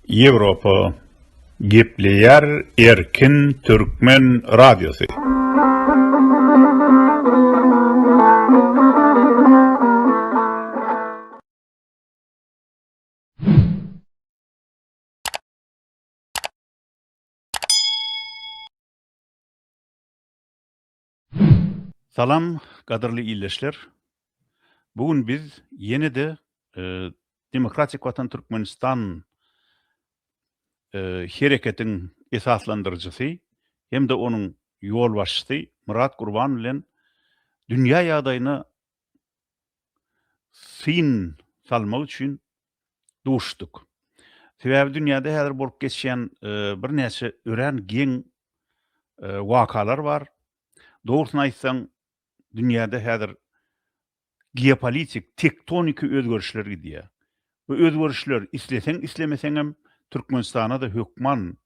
Ýewropa gepleýär erkin türkmen radiosy. Salam gadyrly ildeşler. Bu gün biz ýene-de Demokratik Watan Türkmenistan hereketiň esaslandyryjysy hem-de onuň ýolbaşçysy Myrat Gurban bilen dünýä ýagdaýyna syn salmak üçin duşduk. Sebäbi dünýäde häzir bolup geçýän birnäçe örän geň wakalar bar. Dogrusyny aýtsaň, dünýäde häzir geopolitik, tektoniki özgerişler gidýär. Bu özgerişler isleseň-islemeseňem Türkmenistana-da hökman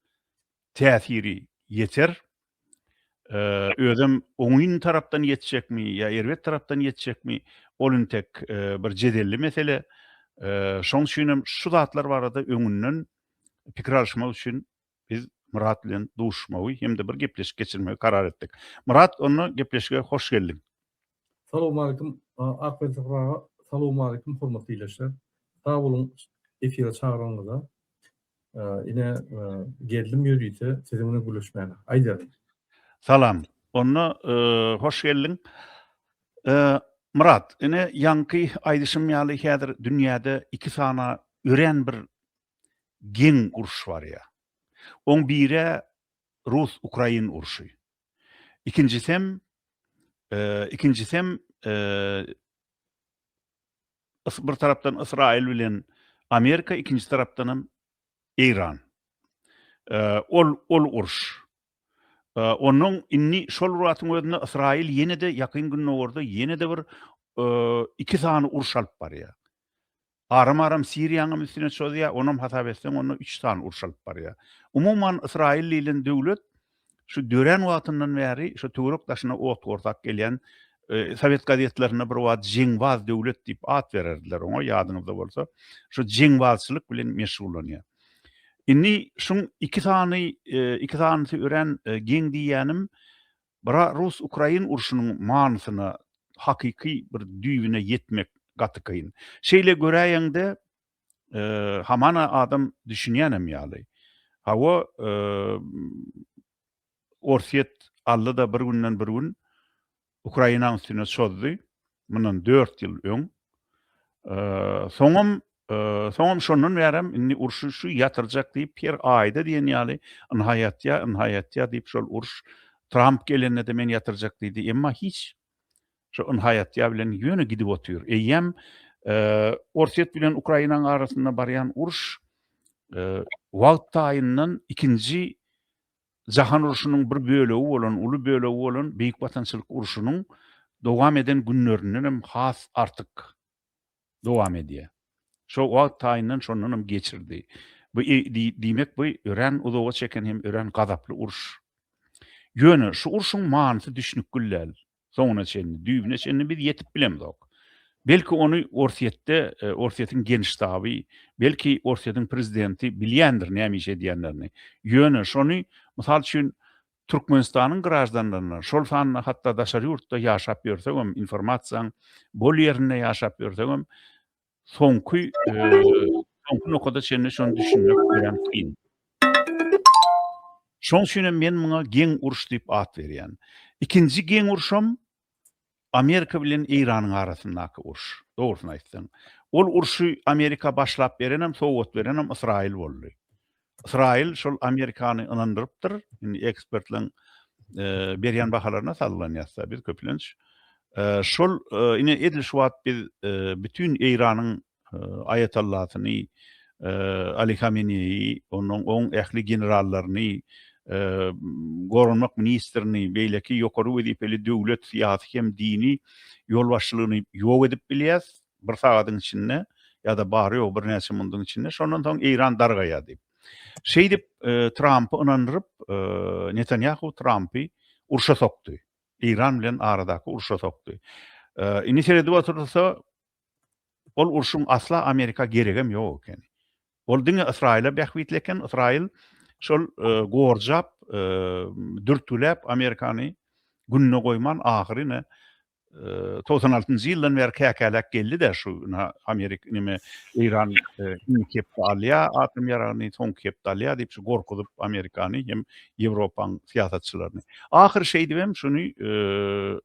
täsiri ýeter. Özem oňyn tarapdan ýetjekmi ýa erbet tarapdan ýetjekmi, ol intek bir jedelli mesele. Şoň üçin hem şu zatlar barada öňünden pikir alyşmak üçin biz Myrat bilen duşuşmagy hem-de bir gepleşik geçirmegi karar etdik. Myrat, onda gepleşige hoş geldiň. Salowmalikim Akbel Syhraga salowmalikim hormatly ildeşler. Sag boluň efire çagyranyňyza. Ine geldim ýörite siziň bilen gürleşmäne. Aýdaryn. Salam. Onda hoş geldiň. Myrat, ine ýaňky aýdyşym ýaly häzir dünýäde iki sana örän bir geň uruş barýar. Oň biri-ä rus-ukrain urşy. Ikinjisem, ikinjisem bir tarapdan Ysraýyl bilen Amerika, ikinji tarapdan hem Eýran. Ol ol uruş. Onuň indi şol wagtyň özünde Ysraýyl ýene-de ýakyn gündogarda ýene-de bir iki sany uruş alyp barýar. aram-aram Siriýanyň hem üstüne çozýar, onam hasap etseň onda üç sany uruş alyp barýar. Umuman Ysraýyl diýlen döwlet şu dörän wagtyndan bäri şu töwerek daşyna ot gorsak gelýän Sowet gazetlerinde bir wagt jeňbaz döwlet diýip at bererdiler oňa ýadyňyzda bolsa şu jeňbazçylyk bilen meşgullanýar. Indi şuň iki sany iki sanysy örän geň diýýänim Bra rus ukrain urşunyň manysyna hakyky bir düýbüne ýetmek gaty kyn. Şeýle göräýeňde hamana adam düşünýänem ýaly. Hawa Orsýet aldy-da bir günden bir gün Ukrainaň üstüne çozdy. mundan dört ýyl öň. Soňam, soňam şondan bärem indi urşy şu ýatyrjak diýip her aýda diýen ýaly ynha ýatýar, ynha ýatýar diýip şol uruş Tramp gelende-de men ýatyrjak diýdi, emma hiç şu ynha ýatýar bilen ýöne gidip otyr. Eýýäm Orsýet bilen Ukrainanyň arasynda barýan uruş wagt taýyndan ikinji Jahan urşunyň bir bölegi bolan, uly bölegi bolan Beýik Watançylyk urşunyň dowam eden günlerinden hem has artyk dowam edýär. Şo wagt taýyndan şondan hem geçirdi. Bu diýmek bu örän uzaga çeken hem örän gazaply uruş. Ýöne şu urşuň manysy düşnükgil däl. Soňuna çenli, düýbüne çenli biz ýetip bilemzok. Belki ony Orsýetde, e, Orsýetiň Genştaby, belki Orsýetiň prezidenti bilýändir näme iş edýänlerini. Ýöne şony, mysal üçin, Türkmenistanyň graždanlaryna, şol sanda hatda daşary ýurtda ýaşap ýörsegem, informasiýaň bol ýerinde ýaşap ýörsegem, soňky soňky nokada çenli şony düşünmek örän kyn. Şoň üçin hem men muňa geň uruş diýip at berýän. Ikinji geň uruşam Amerika bilen Eýranyň arasyndaky uruş. Dogrusyny aýtsaň, ol urşy Amerika başlap berenem, sowgat berenem Ysraýyl boldy. Ysraýyl şol Amerikany ynandyrypdyr. Indi ekspertleriň berýän bahalaryna salgylanyasda biz köplenç şol ine edil şu wagt biz bütün Eýranyň aýatallasyny Ali Hameneýi, onuň oň ähli generallaryny, goranmak ministrini, beýleki ýokary wezipeli döwlet, syýasy hem dini ýolbaşçylygyny ýok edip bilýäs. bir sagadyň içinde ýa-da bary-ýogy birnäçe munduň içinde, şondan soň Eýran dargaýar diýip. Şeýdip, Trampy ynandyryp, Netanýahu Trampy urşa sokdy. Eýran bilen aradaky urşa sokdy. Indi seredip otursa, ol urşuň asla Amerika geregem ýok ekeni. Ol diňe Ysraýyla bähbitli eken, Ysraýyl şol gorjap, dürtgüläp Amerikany gününe goýman, ahyry ine togsan altynjy ýyldan bäri käkäläp geldi-de şu Amerika neme Eýran indiki hepde alýar atom ýaragyny, soňky hepde alýar diýip şu gorkuzyp Amerikany hem Ýewropanyň syýasatçylaryny. Ahyry şeýdip hem şuny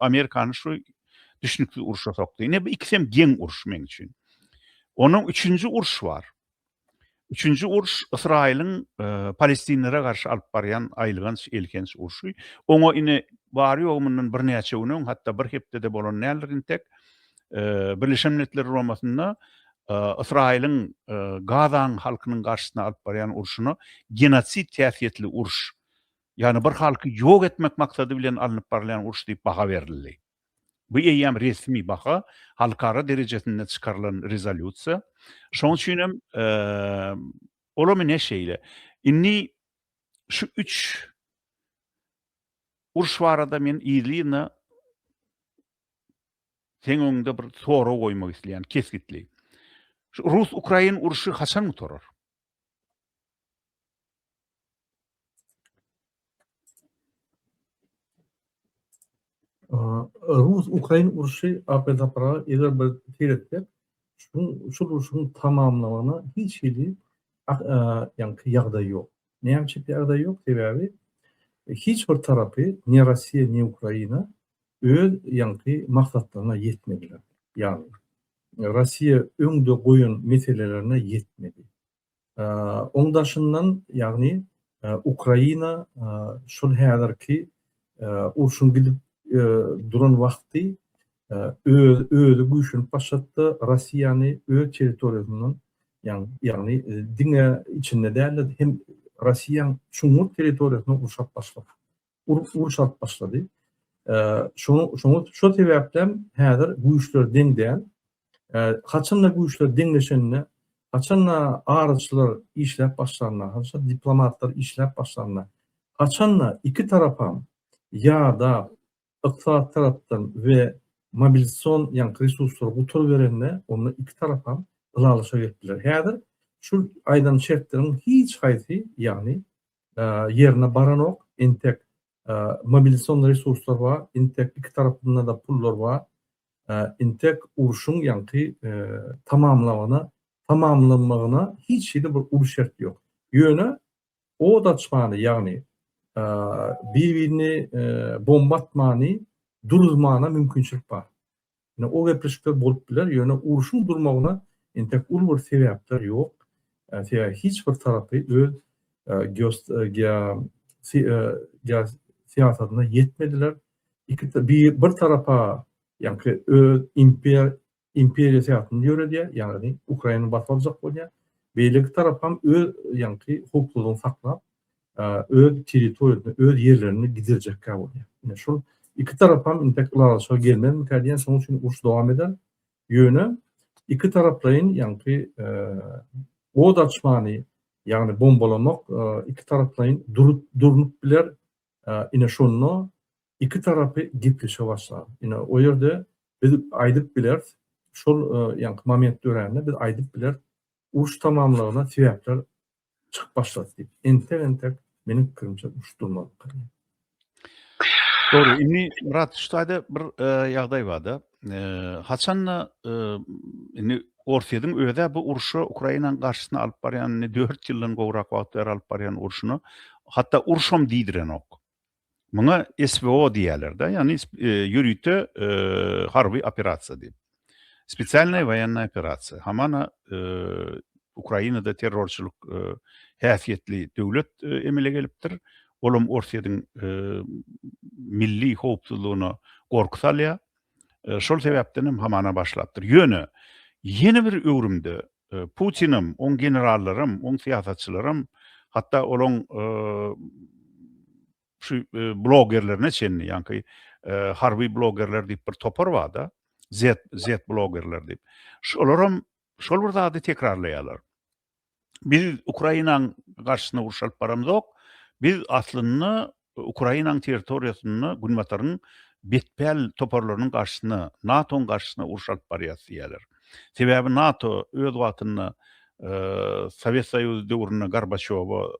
Amerikany şu düşnüksiz urşa sokdy. Ine bu ikisi hem geň uruş meň üçin. Onuň üçünji uruş bar. Üçünji uruş Ysraýylyň palestinlere garşy alyp barýan aýylganç, elhenç urşy. Oňa ine, bary-ýogy mundan birnäçe gün öň, hatda bir hepde-de bolan däldir entek, Birleşen Milletler Guramasynda Ysraýylyň Gaza halkynyň garşysyna alyp barýan urşuna genosid häsiýetli uruş, ýagny bir halky ýok etmek maksady bilen alnyp barylýan uruş diýip baha berildi. Bu eýýäm resmi baha, halkara derejesinde çykarylan rezolýusiýa. Şonuň üçin hem olam ine şeýle. Indi şu üç uruş barada men yzly-yzyna seň öňüňde bir sorag goýmak isleýän kesgitli. Şu rus-ukrain urşy haçan gutarar? Rus-Ukrain urşy apil-tapyla eger bir seýretsek, şu urşuň tamamlamagyna hiç hili ýagdaý ýok. Näme üçin ýagdaý ýok? Sebäbi hiç bir tarapy, ni Russiýa, ni Ukraina öz maksatlaryna ýetmediler. Ýagny, Russiýa öňde goýan meselelerine ýetmedi. Oň daşyndan, ýagny Ukraina şol häzirki urşuň gidip duran wagty özi güýçlenip başlapdy, Russiýany öz territoriýasyndan, ýagny diňe içinde däl-de, hem Russiýanyň çuňňur territoriýasyndan gurşap başlapdy. uruş alyp başlady. Şoňa şol sebäpden häzir güýçler deň däl. Haçanda güýçler deňleşende, haçanda araçylar işläp başlanda, haçanda diplomatlar işläp başlanda, haçanda iki tarapam ýa-da ykdysady tarapdan we mobilizasion ýaňky resurslar gutar berende, onda iki tarapam ylalaşa gelip biler. Häzir şu aýdan şertleriň hiç haýsy, ýagny ýerine baranok, entek mobilizasion resurslar bar, entek iki tarapynda-da pullar bar, entek urşuň ýaňky tamamlamagyna, tamamlanmagyna hiç hili bir uly şert ýok. Ýöne od açmany, ýagny bir-birini bomba atmany duruzmana mümkinçilik bar. Ine o gepleşikler bolup biler, ýöne urşuň durmagyna entek uly bir sebäpler ýok. Sebäbi hiç bir tarapy öz geosyýasatyna ýetmediler. Iki bir tarapa ýaňky öz imperiýa syýasatyny ýöredýär, ýagny Ukraina basyp aljak bolýar. Beýleki tarap hem öz ýaňky howpsuzlygyny saklap, öz territoriýasyny, öz ýerlerini gidirjekkä bolýar. Ine, şol iki tarapam intek ylalaşyga gelmezmikä diýen, şonuň üçin uruş dowam eder. Ýöne iki taraplaýyn, ýaňky od açmany, ýagny bombalamak iki taraplaýyn durnup biler. Ine, şonda iki tarapy gepleşe başlar. Ine, o ýerde biz aýdyp bileris, şol ýaňky moment dörände biz aýdyp bileris, uruş tamamlygyna sebäpler çykyp başlady diýip, entek-entek, meniň pikirimçe, uruşdyrmalyk bolýar. Dogry, indi, Myrat, şu taýda bir ýagdaý bar-da, haçan-da, indi Orsýetiň öz-ä bu urşa, Ukrainanyň garşysyna alyp barýan, indi dört ýyldan gowrak wagt bäri alyp barýan urşuna, hatda urşam diýdirenok. Muňa SVO diýýärler-de, ýagny ýörite harby operasiýa diýip. Spesialnaýa woýennaýa operasiýa. Hamana Ukrainada terrorçylyk häsiýetli döwlet emele gelipdir. Olam Orsýetiň milli howpsuzlygyna gorky salýar. Şol sebäpden hem hamana başlapdyr. Ýöne ýene bir öwrümde Putinam, oň generallaram, oň syýasatçylaram, hatda olaň şu blogerlerine çenli, ýaňky harby blogerler diýip bir topar bar-da, zet, zet blogerler diýip. Şolaram şol bir zady tekrarlaýarlar. Biz Ukrainaň garşysyna uruş alyp baramzok, biz aslynda Ukrainanyň territoriýasynda Günbataryň betpäl toparlarynyň garşysyna, NATO-nyň garşysyna uruş alyp barýas diýýärler. Sebäbi NATO öz wagtynda Sowet Soýuzy döwründe Gorbaçýowa,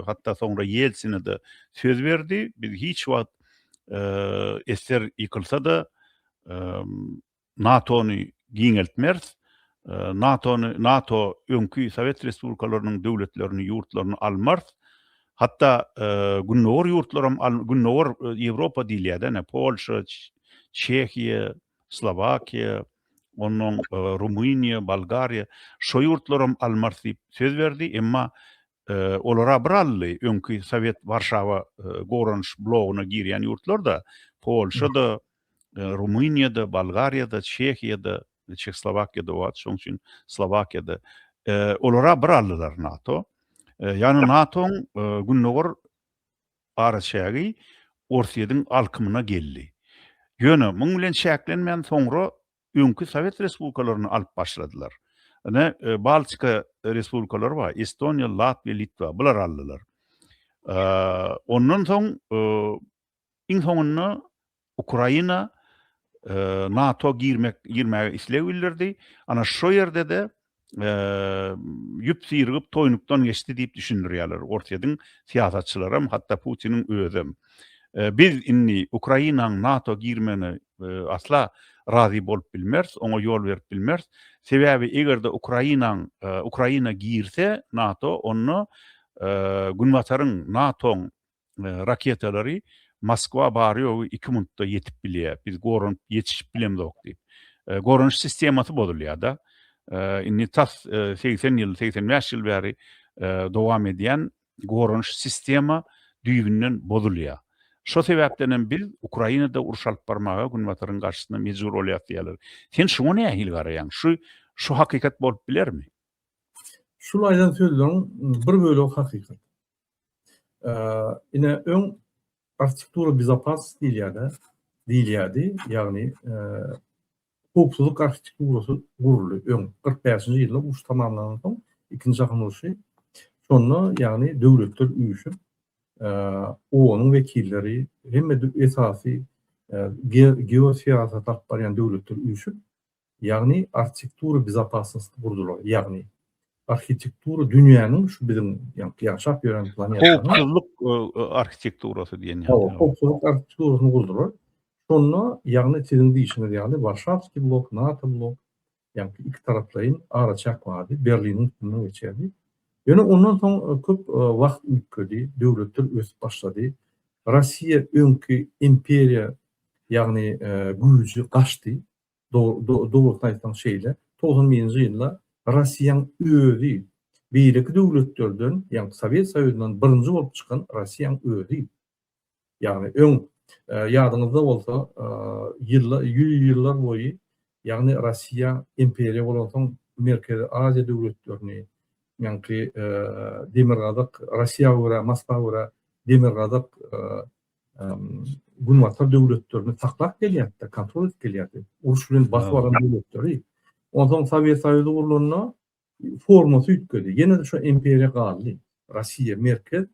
hatda soňra Ýeltsine-de söz berdi, biz hiç wagt esser ýykylsa-da, NATO-ny giňeltmeris, NATO-ny, NATO öňki Sowet Respublikalarynyň döwletlerini, ýurtlaryny almarys, hatda Gündogar ýurtlaram, Gündogar Ýewropa diýilýär-de, ine, Polşa, Çehiýa, Slowakiýa, onnoň Rumyniýa, Bolgariýa, şo ýurtlaram almarys diýip söz berdi, emma olara bir aldy, öňki Sowet Warşawa goranyş blogyna girýän ýurtlar-da, Polşa-da, Rumyniýada, Bolgariýada, Çehiýada, Çehslowakiýada wagt, şoň üçin Slowakiýada. Olara bir aldylar NATO. Ýani NATO-nyň gündogar araçägi Orsýetiň alkymyna geldi. Ýöne muň bilen çäklenmän soňra öňki Sowet respublikalaryny alyp başladylar. Ine Baltika respublikalary bar, Estoniýa, Latwiýa, Litwa, bular aldylar. Ondan soň Iň soňunda Ukraina NATO girmek girmäge isleg bildirdi. Ana şo ýerde-de ýüp syrygyp toýnukdan geçdi diýip düşündirýärler. Orsýetiň syýasatçylaram, hatda Putiniň özem. Biz indi Ukrainanyň NATO girmegine asla razy bolup bilmeris, oňa ýol berip bilmeris. Sebäbi eger-de Ukrainanyň Ukraina girse NATO, onda Günbataryň, NATO-nyň raketalary Moskwa bary-ýogy iki minutda ýetip bilýär. Biz goranyp ýetişip bilemzok diýip. Goranyş sistemasy bozulýar-da. Indi tas segsen ýyl, segsen bäş ýyl bäri dowam edýän goranyş sistema düýbünden bozulýar. Şo sebäpden hem biz Ukrainada uruş alyp barmaga Günbataryň garşysyna mejbur bolýarys diýýärler. Sen şuňa nähili garaýaň? Şu şu hakykat bolup bilermi? Şul aýdan sözleriň bir bölegi hakykat. Ine öň arhitektura bezopasnosti diýilýär-de, diýilýärdi. Ýagny howpsuzlyk arhitekturasy guruldy öň. 45-nji ýylda uruş tamamlanandan soň, Ikinji jahan urşy, şonda ýagny döwletler üýşüp, OON-yň wekilleri, hemme esasy geosyýasat alyp barýan döwletler üýşüp, Ýagny arhitektura bezopasnosti gurdular, ýagny arhitektura dünýäniň şu biziň ýaşap ýören planetanyň howpsuzlyk arhitekturasy diýen ýaly howpsuzlyk arhitekturasyny gurdular. Şonda ýagny siziň diýişiňiz ýaly Warşawskiý blok, NATO blok, ýagny iki taraplaýyn araçäk bardy, Berliniň üstünden geçerdi. Ýöne ondan soň e, köp e, wagt üýtgedi, döwletler ösüp başlady. Russiýa öňki imperiýa, ýagny e, güýji gaçdy. Dogrusyny aýtsaň şeýle, togsan birinji ýylda Russiýaň özi, beýleki döwletlerden, ýagny Sowet Soýuzyndan birinji bolup çykan Russiýaň özi. Ýagny öň ýadyňyzda bolsa, ýüz ýyllar boýy, ýagny Russiýa imperiýa bolansoň Merkezi Aziýa döwletlerini, ýaňky Demirgazyk, Russiýa görä, Moskwa görä Demirgazyk Günbatar döwletlerini saklap gelýärdi, kontrol edip gelýärdi. Uruş bilen basyp alan döwletleri. Ondan Sowet Soýuzy gurulanda formasy üýtgedi. Ýene-de şu imperiýa galdy. Russiýa merkez,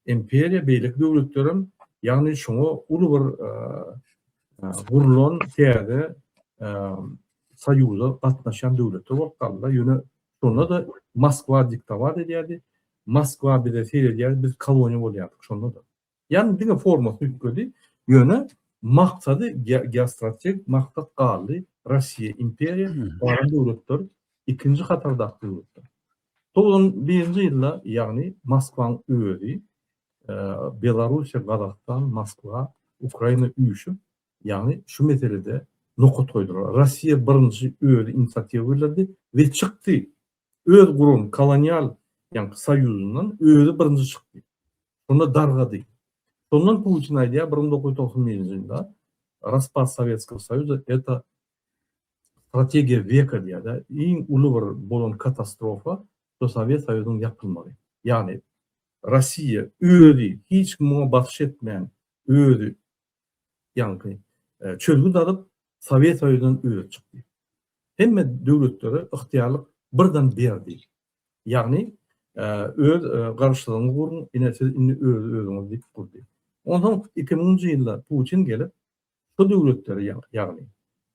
imperiýa beýleki döwletlerim, ýagny şoňa uly bir gurlan täze soýuza gatnaşan döwletler bolup galdylar. Ýöne şonda-da Moskwa diktowat edýärdi. Moskwa bize seredýärdi, biz koloniýa bolýardyk şonda-da. Ýagny diňe formasy üýtgedi, ýöne maksady geostrategik maksat galdy, Russiýa imperiýa, galan döwletler ikinji hatardaky döwletler. Togsan birinji ýylda ýagny Moskwanyň özi Belarussiýa, Gazagystan, Moskwa, Ukraina üýşüp, ýagny şu meselede nokat goýdular. Russiýa birinji özi inisiatiwa bildirdi we çykdy. Öz guran kolonial ýaňky soýuzyndan özi birinji çykdy. Şonda dargady. Şondan Putin aýdýar bir müň dokuz ýüz togsan birinji ýylda Raspad Sowetskogo Soýuza eta strategiýa weka diýýär-de, iň uly bir bolan katastrofa şu Sowet Soýuzynyň ýapylmagy. Ýagny Rossiýa özi hiç kim oňa basyş etmän, özi ýaňky çözgüt alyp, Sowet Soýuzyndan özi çykdy. Hemme döwletlere ygtyýarlyk birden berdi. Ýagny, öz Garaşsyzlygyňyzy guruň, ine, siz indi özi-özüňiz diýip gurdy. Onsoň iki müňünji ýylda Putin gelip, şu döwletleri, ýagny,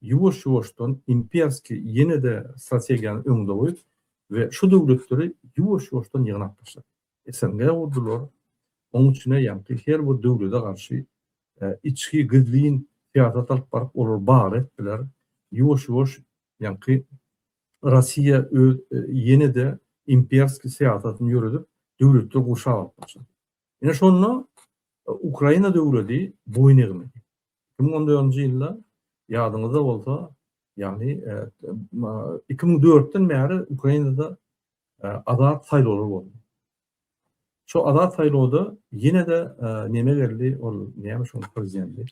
ýuwaş-ýuwaşdan imperski ýene-de strategiýany öňde goýup we şu döwletleri ýuwaş-ýuwaşdan ýygnap başlady. SNG gurdular, oň içine ýaňky her bir döwlede garşy içki gizlin syýasat alyp baryp olar bar etdiler, ýuwaş ýuwaş ýaňky Rossiýa öz ýenede imperski syýasatyny ýöredip döwletler gurşap alyp başlady. Ine şonda Ukraina döwledi boýun egmedi. Iki müň on dördünji ýylda ýadyňyzda bolsa ýagny iki müň dörtden bäri Ukrainada Azat saýlawlar boldy. Şo azat saýlawda ýene-de neme geldi, ol näme şoň prezidenti?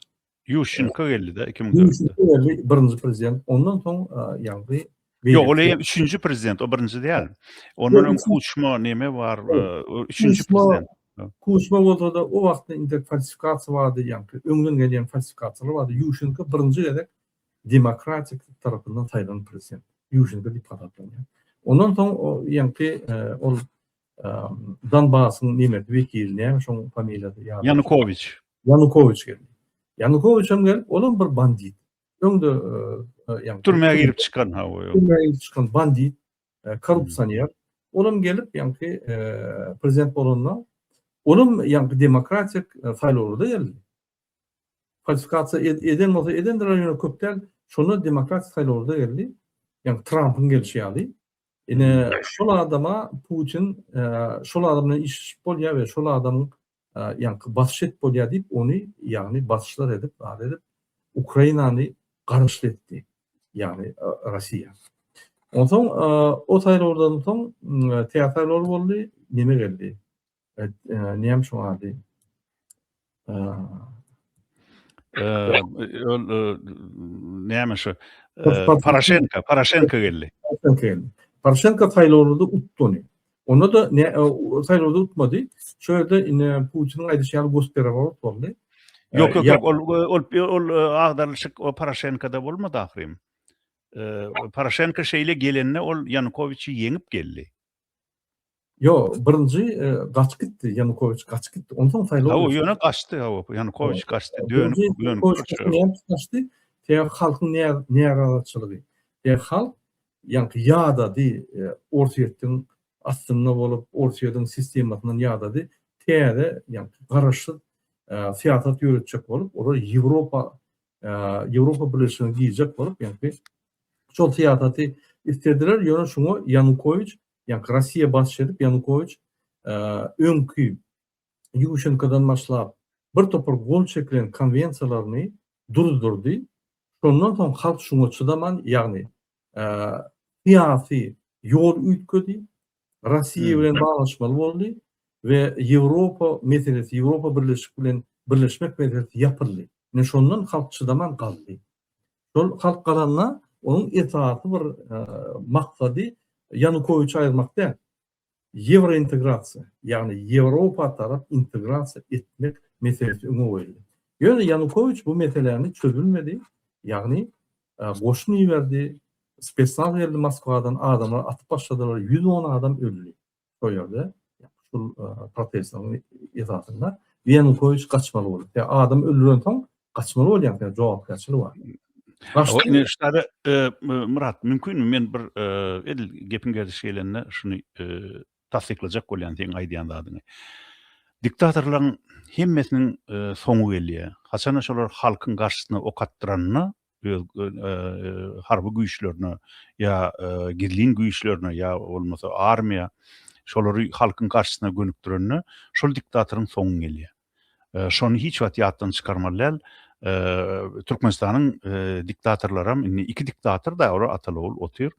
Ýuşenko geldi-de iki müň dördünji ýylda. Ýuşenko geldi, birinji prezident. Ondan soň ýagny Ýok, ol eýýäm üçünji prezident, o birinji däl. Ondan öň Kuçma neme bar, üçünji prezident. Kuçma bolsa-da, o wagtda indi falsifikasiýa bardy, ýagny öňden gelýän falsifikasiýalar bardy. Ýuşenko birinji gezek demokratik tarapyndan saýlan prezident. Ýuşenko diýip hasaplanýar. Ondan soň o ýaňky ol Donbasyň nimesi wekili näme şoň familiýasy ýa Yanukowiç. Yanukowiç geldi. Yanukowiç hem gelip, ol hem bir bandit. Öňde ýaňky türmä girip çykan ha o. Türmä girip çykan bandit, korrupsioner. Ol hem gelip ýaňky prezident bolanda, ol hem ýaňky demokratik saýlawlarda geldi. Falsifikasiýa ed eden bolsa edendir ol ýöne köp däl. Şonda demokratik saýlawlarda geldi. Ýa Trampyň gelşi ýaly. Ine şol adama Putin şol adam bilen işleşip bolýar we şol adamyň ýaňky basyş edip bolýar diýip ony ýagny basyşlar edip zat edip Ukrainany gargyşly etdi. Ýagny Russiýa. Onsoň o saýlawlardan soň tä saýlawlar boldy. Neme geldi? Näme şoň ady? Ol näme şu? Poroşenko, Poroşenko geldi. Poroşenko saýlawlarda utdy. Onda da ne saýlawda utmady. Şu ýerde indi Putiniň aýdyşy ýaly gosperaworot boldy. Ýok, ýok, ol ol ol agdarylyşyk o Poroşenkada bolmady ahyrym. Poroşenko şeýle gelende ol Ýanukowiçi ýeňip geldi. Ýo, birinji gaçyp gitdi, Ýanukowiç gaçyp gitdi. Onsoň saýlaw. Hawa, ýöne gaçdy, hawa, Ýanukowiç gaçdy, dönüp, dönüp gaçdy. Sebäbi halkyň närazyçylygy. Sebäbi halk ýaňky ýadady, Orsýetiň astynda bolup, Orsýetiň sistemasyndan ýadady. Täze, ýaňky garaşsyz syýasat ýöretjek bolup, olar Ýewropa, Ýewropa Birleşigine girjek bolup, ýaňky şol syýasaty islediler, ýöne şuňa Ýanukowiç Ýa Rossiýa basyş edip Ýanukowiç öňki Ýuşenkodan başlap bir topar gol çekilen konwensiýalaryny duzdurdy. Şondan soň halk şuňa çydaman, ýagny syýasy ýol üýtgedi, Rossiýa bilen baglaşmaly boldy we Ýewropa meselesi, Ýewropa birleşik bilen birleşmek meselesi ýapyldy. Ine şondan halk çydaman galdy. Şol halk galanda onuň esasy bir maksady Ýanukowiçi aýyrmak däl. Ýewrointegrasiýa, ýagny Ýewropa tarap integrasiýa etmek meselesi öňe goýuldy. Ýöne Ýanukowiç bu meseläni çözülmedi, ýagny goşun iberdi, spesnaz geldi Moskwadan, adamlar atyp başladylar, ýüz on adam öldi. şol ýerde şul protestiň esasynda Ýanukowiç gaçmaly boldy. Ýa adam öldüren soň gaçmaly bolýan sen jogapkärçilik bar. Başda şada Murat mümkinmi men bir edil gepiň gerdiş gelende şuny tassyklajak bolýan seň aýdýan zadyňy. Diktatorlaryň hemmesiniň soňy gelýär. Haçana şolar halkyň garşysyna ok atdyranyna öz harby güýçlerine ýa gizlin güýçlerine ýa bolmasa armiýa şolary halkyň garşysyna gönükdirende şol diktatoryň soňy gelýär. Şony hiç wagt ýatdan çykarmaly däl. Türkmenistanyň diktatorlaram indi iki diktator da olar ata-ogul otyr.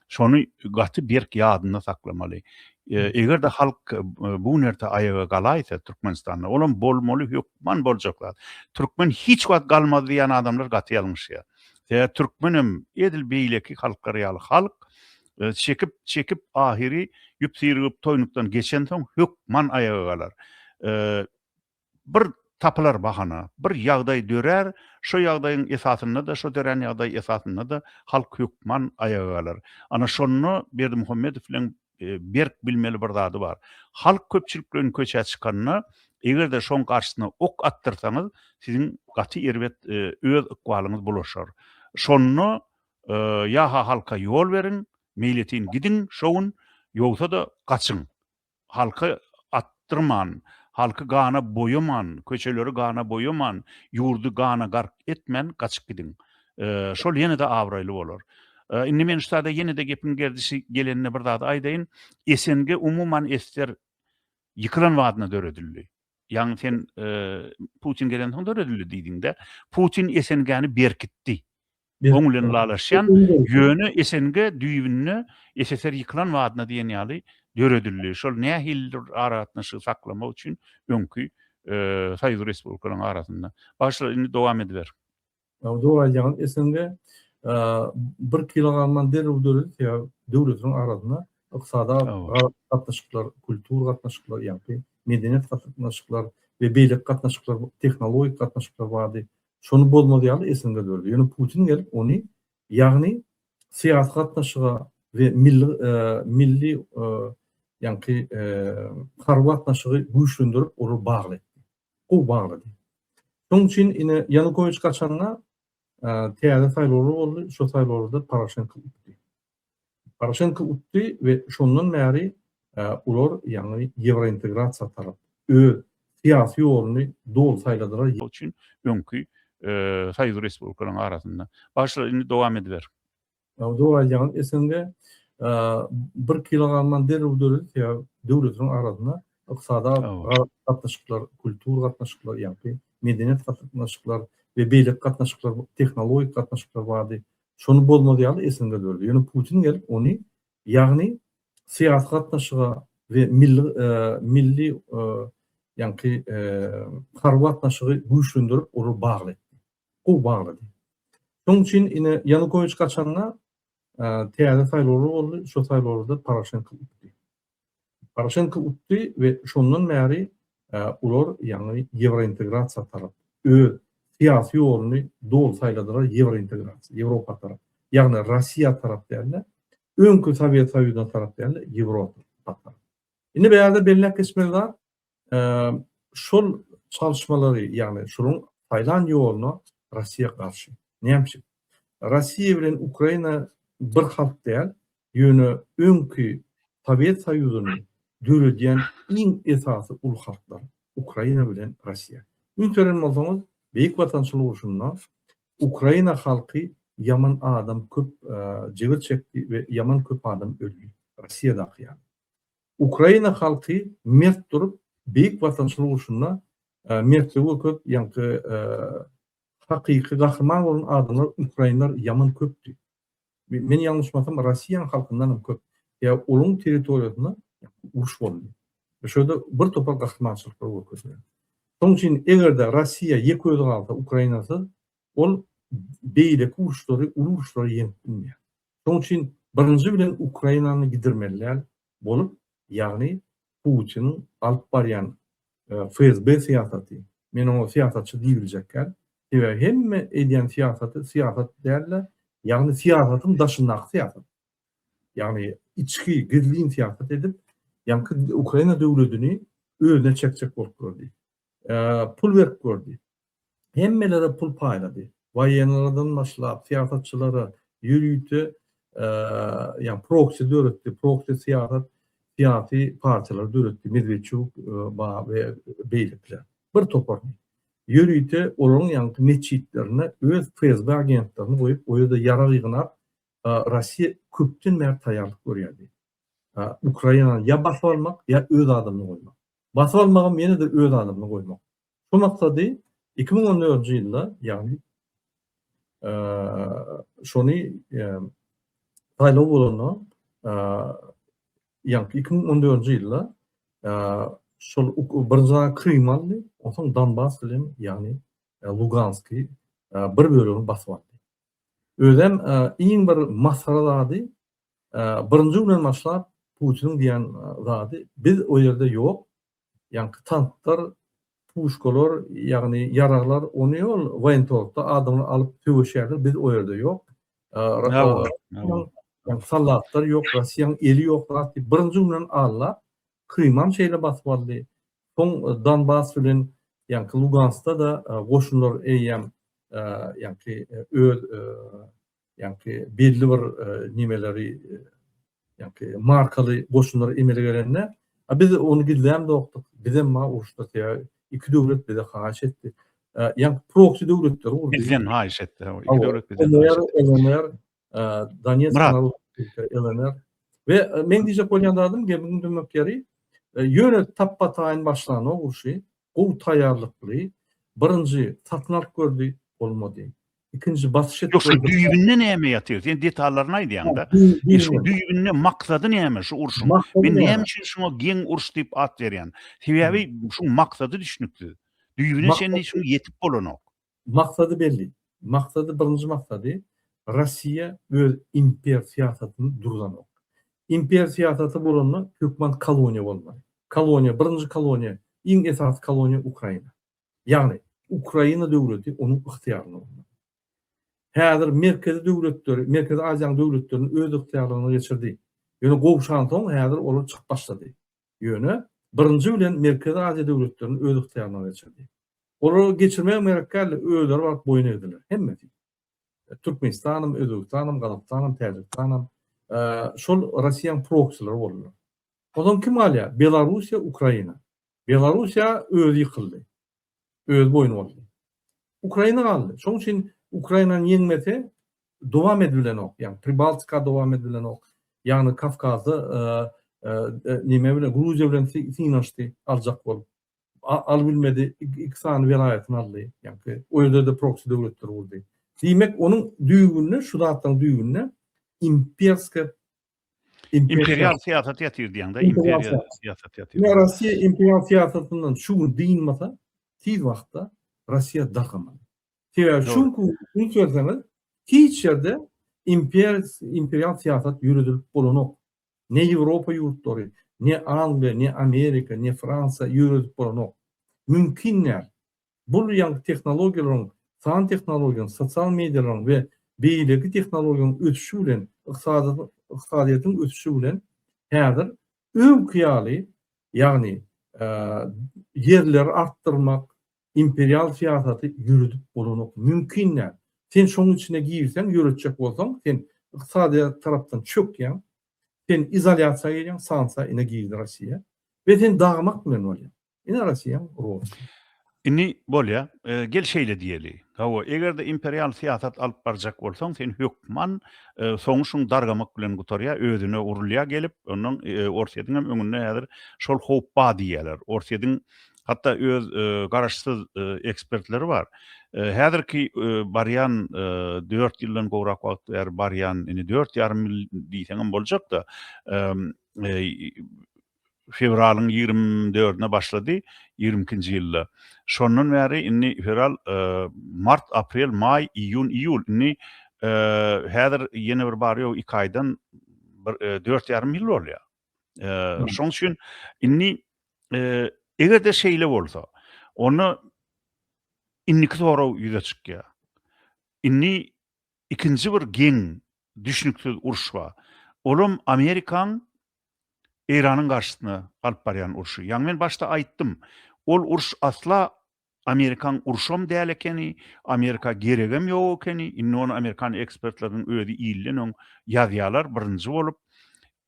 Şony gaty berk ýadynda saklamaly. Eger-de halk bu nerte aýaga galaýsa Türkmenistanda, olam bolmaly hökman boljak zat. Türkmen hiç wagt galmaz diýýän adamlar gaty ýalňyşýar. Sebäbi türkmen hem edil beýleki halklar ýaly halk, çekip, çekip ahyry ýüp-syrgyp toýnukdan geçensoň hökman aýaga galar. bir tapylar bahana, bir ýagdaý dörär, şo ýagdaýyň esasynda-da, şo dörän ýagdaý esasynda-da halk hökman aýaga galar. Ana şonda Berdimuhamedow bilen berk bilmeli bir zady bar. Halk köpçülik bilen köçä çykanda, eger-de şoň garşysyna ok atdyrsaňyz, siziň gaty erbet öz ykbalyňyz bulaşar. Şonda ýa-ha halka ýol beriň, meýletin gidiň şo gün, ýogsa-da gaçyň. Halky atdyrman, halky gana boýaman, köçeleri gana boýaman, ýurdy gana gark etmän gaçyp gidiň. Şol ýene-de abraýly bolar. Indi men ştada ýene-de gepiň gerdişi gelende bir zady aýdaýyn. SNG umuman ester ýykylan badyna döredildi. Ýagny sen Putin gelensoň döredildi diýdiň-dä. Putin SNG-ni berkitdi. oň bilen ylalaşýan, ýöne SNG düýbünde SSR ýykylan badyna diýen ýaly döredildi. Şol nähilidir aragatnaşygy saklamak üçin öňki Soýuz respublikalaryň arasynda. Bagşlar indi dowam ediber. Dogry aýdýaňyz SNG bir kilogramdan derrew döredi sebäbi döwletleriň arasynda ykdysady gatnaşyklar, kultur gatnaşyklar ýagny medeniýet gatnaşyklar we beýleki gatnaşyklar, tehnologik gatnaşyklar bardy. Şony bozmaz ýaly esinde durdy. Ýöne Putin gelip ony, ýagny syýasy gatnaşyga we milli milli ýaňky harby gatnaşygy güýçlendirip olary bagly etdi. Gowy baglady. Şonuň üçin ine Ýanukowiç gaçanda täze saýlawlar boldy. Şo saýlawlarda Poroşenko utdy. Poroşenko utdy we şondan bäri olar ýaňy ýewrointegrasiýa tarap öz syýasy ýoluny doly saýladylar. Şol üçin öňki soýuz respublikalaryň arasynda. Bagşlar indi dowam ediber. Dogry aýdýaňyz SNG bir kilo galman derrew döredir sebäbi döwletleriň arasynda ykdysady gatnaşyklar kultur gatnaşyklar ýagny medeniýet gatnaşyklar we beýleki gatnaşyklar tehnologik gatnaşyklar bardy Şony bolmaz ýaly esinde durdy. Ýöne Putin gelip ony, ýagny syýasy gatnaşyga we milli milli ýaňky harby gatnaşygy güýçlendirip olar bagly etdi. Gowy baglady. Şonuň üçin ine Ýanukowiç gaçanda täze saýlawlar boldy. Şo saýlawlarda Poroşenko utdy. Poroşenko utdy we şondan bäri olar, ýagny ýewrointegrasiýa tarap öz syýasy ýoluny doly saýladylar, ýewrointegrasiýa, Ýewropa tarap, ýagny Russiýa tarap däl-de, öňki Sowet Soýuzyna tarap däl-de, Ýewropa tarap. Indi bu ýerde belläp geçmeli zat, Şol çalyşmalary, ýagny şunuň saýlan ýoluna Russiýa garşy. Näme üçin? Russiýa bilen Ukraina bir halk däl, ýöne öňki Sowet Soýuzyny döredýän iň esasy uly halklar, Ukraina bilen Russiýa. Ünseren bolsaňyz, Beýik Watançylyk urşunda Ukraina halky ýaman adam köp jebir çekdi we ýaman köp adam öldi, Russiýadaky ýaly. Ukraina halky mert durup beýik watançylyk urşunda mertligi görkezip ýaňky hakyky gahryman bolan adamlar ukrainler ýaman köpdi. Men ýalňyşmasam Rossiýanyň halkyndan hem köp ýa olaň territoriýasynda uruş boldy. Ýa şoýda bir topar gahrymançylyklar görkezilýär. Şoň üçin egerde Rossiýa ýeke özi galsa Ukrainasyz ol beýleki uruşlary uly uruşlary ýeňip bilmeýär. Şoň üçin birinji bilen Ukrainany gidirmelilär bolup, ýagny Putiniň alyp barýan FSB syýasaty, men oňa syýasatçy diýibiljekgär, sebäbi hemme edýän syýasaty syýasat däl-de, ýagny syýasatyň daşyndaky syýasat, ýagny içki, gizlin syýasat edip, ýaňky Ukraina döwledini özüne çekjek bolup durar diýip. pul berip gördi. Hemmelere pul paýlady. Waýenlerden başlap, syýasatçylara ýörite ýa proksi döretdi. Proksi syýasat syýasy partiýalary döretdi. Medwedçuk ba we beýlekiler. Bir topar ýörite olaryň ýaňky metjitlerine öz FSB agentlerini goýup, o ýerde ýarag ýygnap, Russiýa köpden bäri taýýarlyk görýärdi. Ukrainany ýa basyp almak, ýa öz adamyny goýmak. Basyp almagam ýene-de öz adamyny goýmak. Şu maksady iki müň on dördünji ýylda, ýagny şony saýlaw bolanda, ýa iki müň on dördünji ýylda şol birinji aýy Krym aldy, ondan soň Donbas bilen, ýagny Luganski bir bölegini basyp aldy. Özem iň bir masgara zady Birinji günden başlap Putiniň diýen zady biz o ýerde ýok, ýaňky tanklar, puşkalar, ýagny ýaraglar ony ýol woýentorgda adamlar alyp söweşýärler, biz o ýerde ýok. Soldatlar ýok, Russiýanyň eli ýok zat diýip birinji günden alla Krymam şeýle basyp aldy. Soň Donbas bilen ýaňky Luganskda-da goşunlar eýýäm ýaňky öz ýaňky belli bir nimeleri ýaňky markaly goşunlar emele gelende a biz ony gizläm dokdyk bizem ma uruşda teä iki döwlet bize haýyş etdi ýaňky proksi döwletler urdy bizden haýyş etdi iki döwlet bizden haýyş etdi LNR Donetsk LNR we men diýjek bolýan zadym gemiň dümmek ýeri ýöne tapbataýyn başlany urşy Gowy taýýarlykly birinji satyn alyp gördi bolmady. Ikinji basyş edip gördi. Ýok şu düýbinde näme ýatyr sen detallaryny aýdýaňda. Men şu düýbinde maksady näme şu urşuň. Men näme üçin şuňa geň uruş diýip at berýän. Sebäbi şuň maksady düşnüksiz. Düýbine çenli şuň ýetip bolanok. Maksady belli. Maksady birinji maksady, Rossiýa öz imper syýasatyny durzanok. Imper syýasaty bolanda hökman koloniýa bolmaly. Koloniýa, birinji koloniýa, iň esasy koloniýa Ukraina. Ýagny, Ukraina döwleti onuň ygtyýarynda bolmaly. Häzir merkezi döwletleri, Merkezi Aziýanyň döwletlerini öz ygtyýarlygyna geçirdi. Ýöne gowşansoň häzir olar çykyp başlady. Ýöne, birinji bilen Merkezi Aziýa döwletlerini öz ygtyýaryna geçirdi. Olary geçirmegi merak däldi, özleri baryp boýun egdiler. Hemmesi. Türkmenistanam, Özbegistanam, Gazagystanam, Täjigistanam, şol Russiýanyň proksilary boldular. Onsoň kim galýar? Belarussiýa, Ukraina. Belarussiýa özi ýykyldy. öz boýun bolsun. Ukraina galdy. Şoň üçin Ukrainany ýeňmese dowam edibilenok. Ýagny Pribaltika dowam edibilenok. Ýagny Kawkazda nime bilen Gruziýa bilen synanyşdy aljak bolup. Alyp bilmedi. Iki sany welaýatyny aldy. Ýagny o ýerde-de proksi döwletler gurdy. Diýmek onuň düýbünde şu zatlaryň düýbünde imperske Imperial siyasat yatyr diýen de imperial siyasat yatyr. Ne Rusiýa imperial siyasatyndan şu gün dynmasa, tiz wagtda Rusiýa dargaman. Sebäbi şu gün üns berseňiz, hiç ýerde imper imperial siyasat ýöredilip bolanok. Ne Ýewropa ýurtlary, ne Angliýa, ne Amerika, ne Fransiýa ýöredip bolanok. Mümkin däl. Bu uly ýaňky tehnologiýalaryň, san tehnologiýanyň, sosial mediýalaryň we beýleki tehnologiýalaryň ösüşi bilen, ykdysadyýetiň ösüşi bilen häzir öňki ýaly, ýagny ýerleri artdyrmak, imperial syýasaty ýöredip bolanok, mümkin däl. Sen şonuň içine girseň, ýöretjek bolsaň, sen ykdysadyýet tarapdan çökýäň, sen izolýasiýa gelýäň, sanksiýa ine girdi Russiýa we sen dagmak bilen bolýar. Ine Russiýa, Rus. Indi bolýa, gel şeýle diýeli. Hawa, eger-de imperial syýasat alyp barjak bolsaň, sen hökman soňy şuň dargamak bilen gutarýa, özüne urulýa gelip, ondan Orsýetiň hem öňünde häzir şol howp bar diýýäler. Orsýetiň hatda öz garaşsyz ekspertleri bar. Häzirki barýan dört ýyldan gowrak wagt bäri barýan, indi dört ýarym ýyl diýseňem boljak-da, fewralyň ýigrimi dördüne başlady, ýigrimi ikinji ýylda. Şondan bäri indi fewral, mart, aprel, maý, iýun, iýul, indi häzir ýene bir bary-ýogy iki aýdan bir dört ýarym ýyl bolýar. Şonuň üçin indi eger-de şeýle bolsa, onda indiki sorag ýüze çykýar. Indi ikinji bir geň, düşnüksiz uruş bar. Olam Amerikaň Eýranyň garşysyna alyp barýan urşy. Ýaňy men başda aýtdym, ol uruş asla Amerikaň urşam däl ekeni, Amerika geregem ýok ekeni, indi ony amerikan ekspertleriniň özi ilden öň ýazýarlar birinji bolup.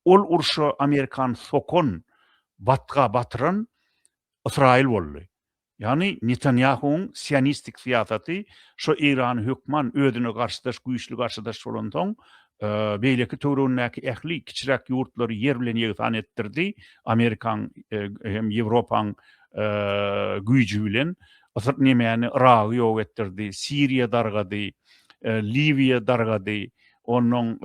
Ol urşa Amerikany sokan, batga batyran Ysraýyl boldy. Ýagny Netanýahuwyň sionistik syýasaty şo Eýrany hökman özüne garşydaş güýçli garşydaş bolansoň beýleki töwregindäki ähli kiçiräk ýurtlary ýer bilen ýegsan etdirdi Amerikaň hem Ýewropaň güýji bilen Ysr nemäni Yragy ýok etdirdi Siriýa dargady Liwiýa dargady onnoň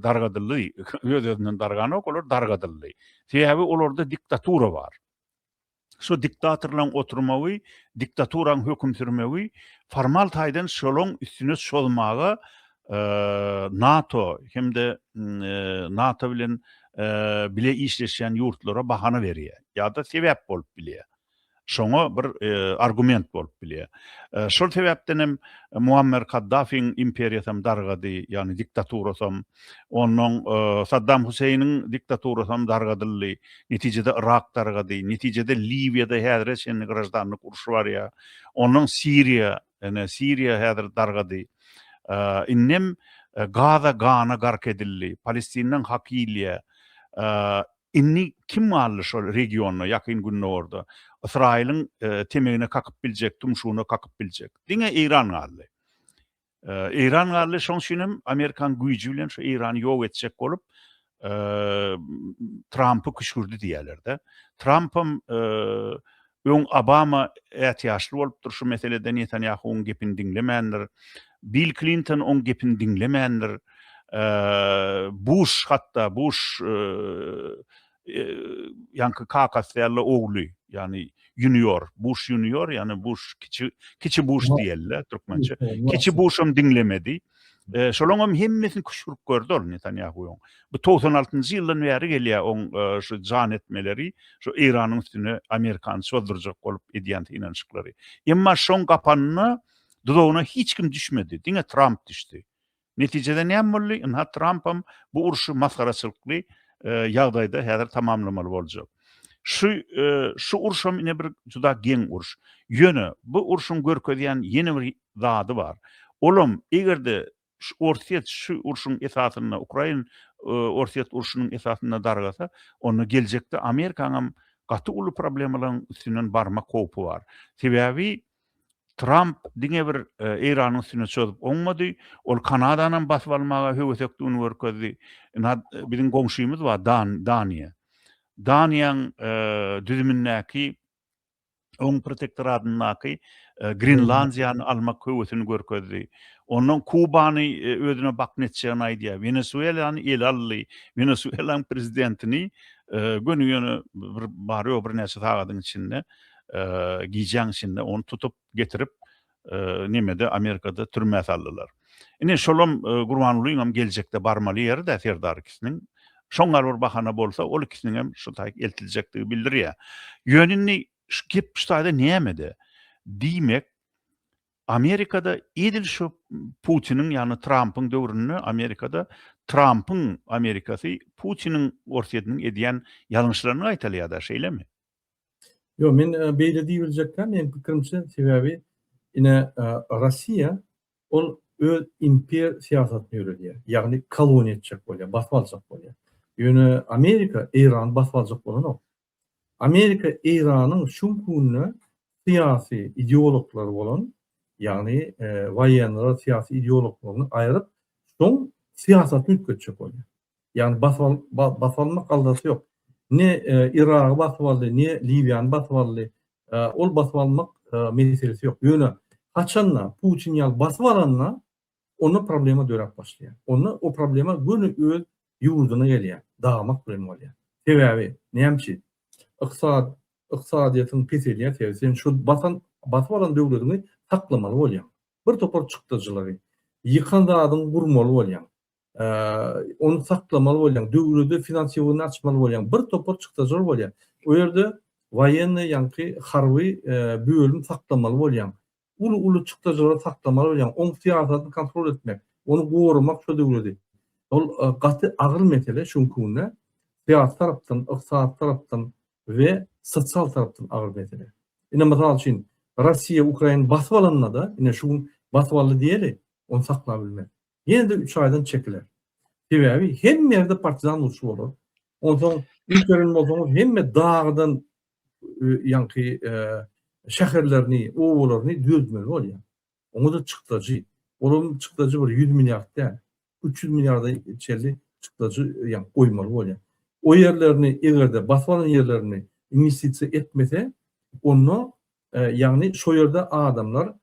dargadyldy öz-özünden darganok olar dargadyldy sebäbi olarda diktatura bar. Şu diktatorlaň oturmagy, diktaturaň höküm sürmegi formal taýdan şolaň üstüne çozmaga NATO hem-de NATO bilen bile işleşýän ýurtlara bahana berýär ýa-da sebäp bolup bilýär. Şoňa bir argument bolup bilýär. Şol sebäpden hem Muammer Kaddafiň imperiýasy hem dargady, ýagny diktaturasy hem. Onnoň Saddam Huseýniň diktaturasy hem dargadyldy. Netijede Yrak dargady. Netijede Liwiýada häzire çenli graždanlyk urşy barýar. Onnoň Siriýa, ine, Siriýa häzir dargady. Indem Gaza gana gark edildi. Palestindan hak iýilýär. Indi kim galdy şol regionda, Ýakyn Gündogarda? Ysraýylyň temegine kakyp biljek, tumşugyna kakyp biljek. Diňe Eýran galdy. Eýran galdy, şoň üçin hem Amerikan güýji bilen şu Eýrany ýok etjek bolup, Trampy küşgürdi diýýärler-de. Tramp hem öň Obama ätiýaçly bolupdyr şu meselede, Netanýahuwyň gepini diňlemändir. Bill Klinton oň gepini diňlemändir. Buş hatda, Buş ýaňky kakasy ýaly ogly, ýagny junior, Buş junior, ýagny Buş kiçi, kiçi Buş diýeli-le türkmençe. Kiçi Buşam diňlemedi. Şolaryň hem hemmesini küşgürip gördi ol Netanýahuwyň. Bu togsan altynjy ýyldan bäri gelýär oň şu jan etmeleri, şu Eýranyň üstüne Amerikany çozdurjak bolup edýän synanyşyklary. Emma şoň gapanyna, duzagyna hiç kim düşmedi, diňe Tramp düşdi. Netijede näme boldy? Ynha Trampam bu urşy masgaraçylykly ýagdaýda häzir tamamlamaly boljak. Şu şu urşam ine bir juda geň urş. Ýöne bu urşuň görkezýän ýene bir zady bar. Olam egerde şu Orsýet şu urşuň esasynda Ukrain Orsýet urşunyň esasynda dargasa, onda geljekde Amerikaňam gaty uly problemalaryň üstünden barmak howpy bar. Sebäbi Tramp diňe bir Eýranyň üstüne çözup oňmady, ol Kanadanam basyp almaga höwesekdigini görkezdi. Biziň goňşymyz bar, Daniýa. Daniýaň düzümindäki oň protektoradyndaky Grenlandiýany almak höwesini görkezdi. Ondan Kubany özüne bakn etjegini aýdýar. Wenesuelany ele aldy. Wenesuelaň prezidentini göni-göni bir bar-ýok birnäçe sagadyň içinde gijäň içinde ony tutup getirip nemede Amerikada türmä saldylar. Ine şolam Gurbangulynyňam geljekde barmaly ýeri-dä Serdar ikisiniň. Şoň gal bir bahana bolsa ol ikisiniňem şu taýy eltiljekdigi bildirýär. Ýöne indi şu gep şu taýda nämede? Diýmek Amerikada edil şu Putiniň ýagny Trampyň döwründe Amerikada Trampyň Amerikasy Putiniň Orsýetiniň edýän ýalňyşlaryny gaýtalýar-da şeýlemi? Ýok, men beýle diýibiljekkä, meniň pikirimçe, sebäbi ine Russiýa ol öz imper syýasatyny ýöredýär, ýagny koloniýa etjek bolýar, basyp aljak bolýar. Ýöne Amerika Eýrany basyp aljak bolanok. Amerika Eýranyň şu gününe syýasy ideologlary bolan, ýagny waýenleri syýasy ideologlaryny aýryp, şoň syýasatyny üýtgetjek bolýar. Ýagny basyp almak galdasy ýok. Ne Yragy basyp aldy, ne Liwiýany basyp aldy. Ol basyp almak meselesi ýok. Ýöne haçanda Putin ýaly basyp alanda onda problema döräp başlaýar. Onda o problema göni öz ýurdyna gelýär. Dagmak bilen bolýar. Sebäbi näme üçin? Yksad yksadyýetiň peselýär sebäbi sen şu basan basyp alan döwlediňi saklamaly bolýaň. Bir topar çykdajylary ýykan zadyňy gurmaly bolýaň. ony saklamaly bolýaň, döwlete finansiýowany açmaly bolýaň, bir topar çykdajylar bolýar. O ýerde woýennoý ýaňky harby bölüm saklamaly bolýaň. Uly-uly çykdajylary saklamaly bolýaň, oň syýasatyny kontrol etmek, ony goramak şu döwleti. Ol gaty agyr mesele şu günki günde. Syýasy tarapdan, ykdysady tarapdan we sosial tarapdan agyr mesele. Ine, mysal üçin, Russiýa Ukraina basyp alanda-da, ine şu gün basyp aldy diýeli, ony saklap bilmez. ýene-de üç aýdan çekiler. Sebäbi hemme ýerde partizan urşy bolar. Onsoň üns beren bolsaňyz hemme dagydan ýaňky şäherlerini, obalaryny düzeltmeli bolýar. Oňa-da çykdajy. Olaryň çykdajy bir ýüz milliard däl. Üç ýüz milliarda çenli çykdajy ýaňky goýmaly bolýar. O ýerlerini eger-de basyp alan ýerlerini inwestisiýa etmese, onda Ýagny şo ýerde adamlar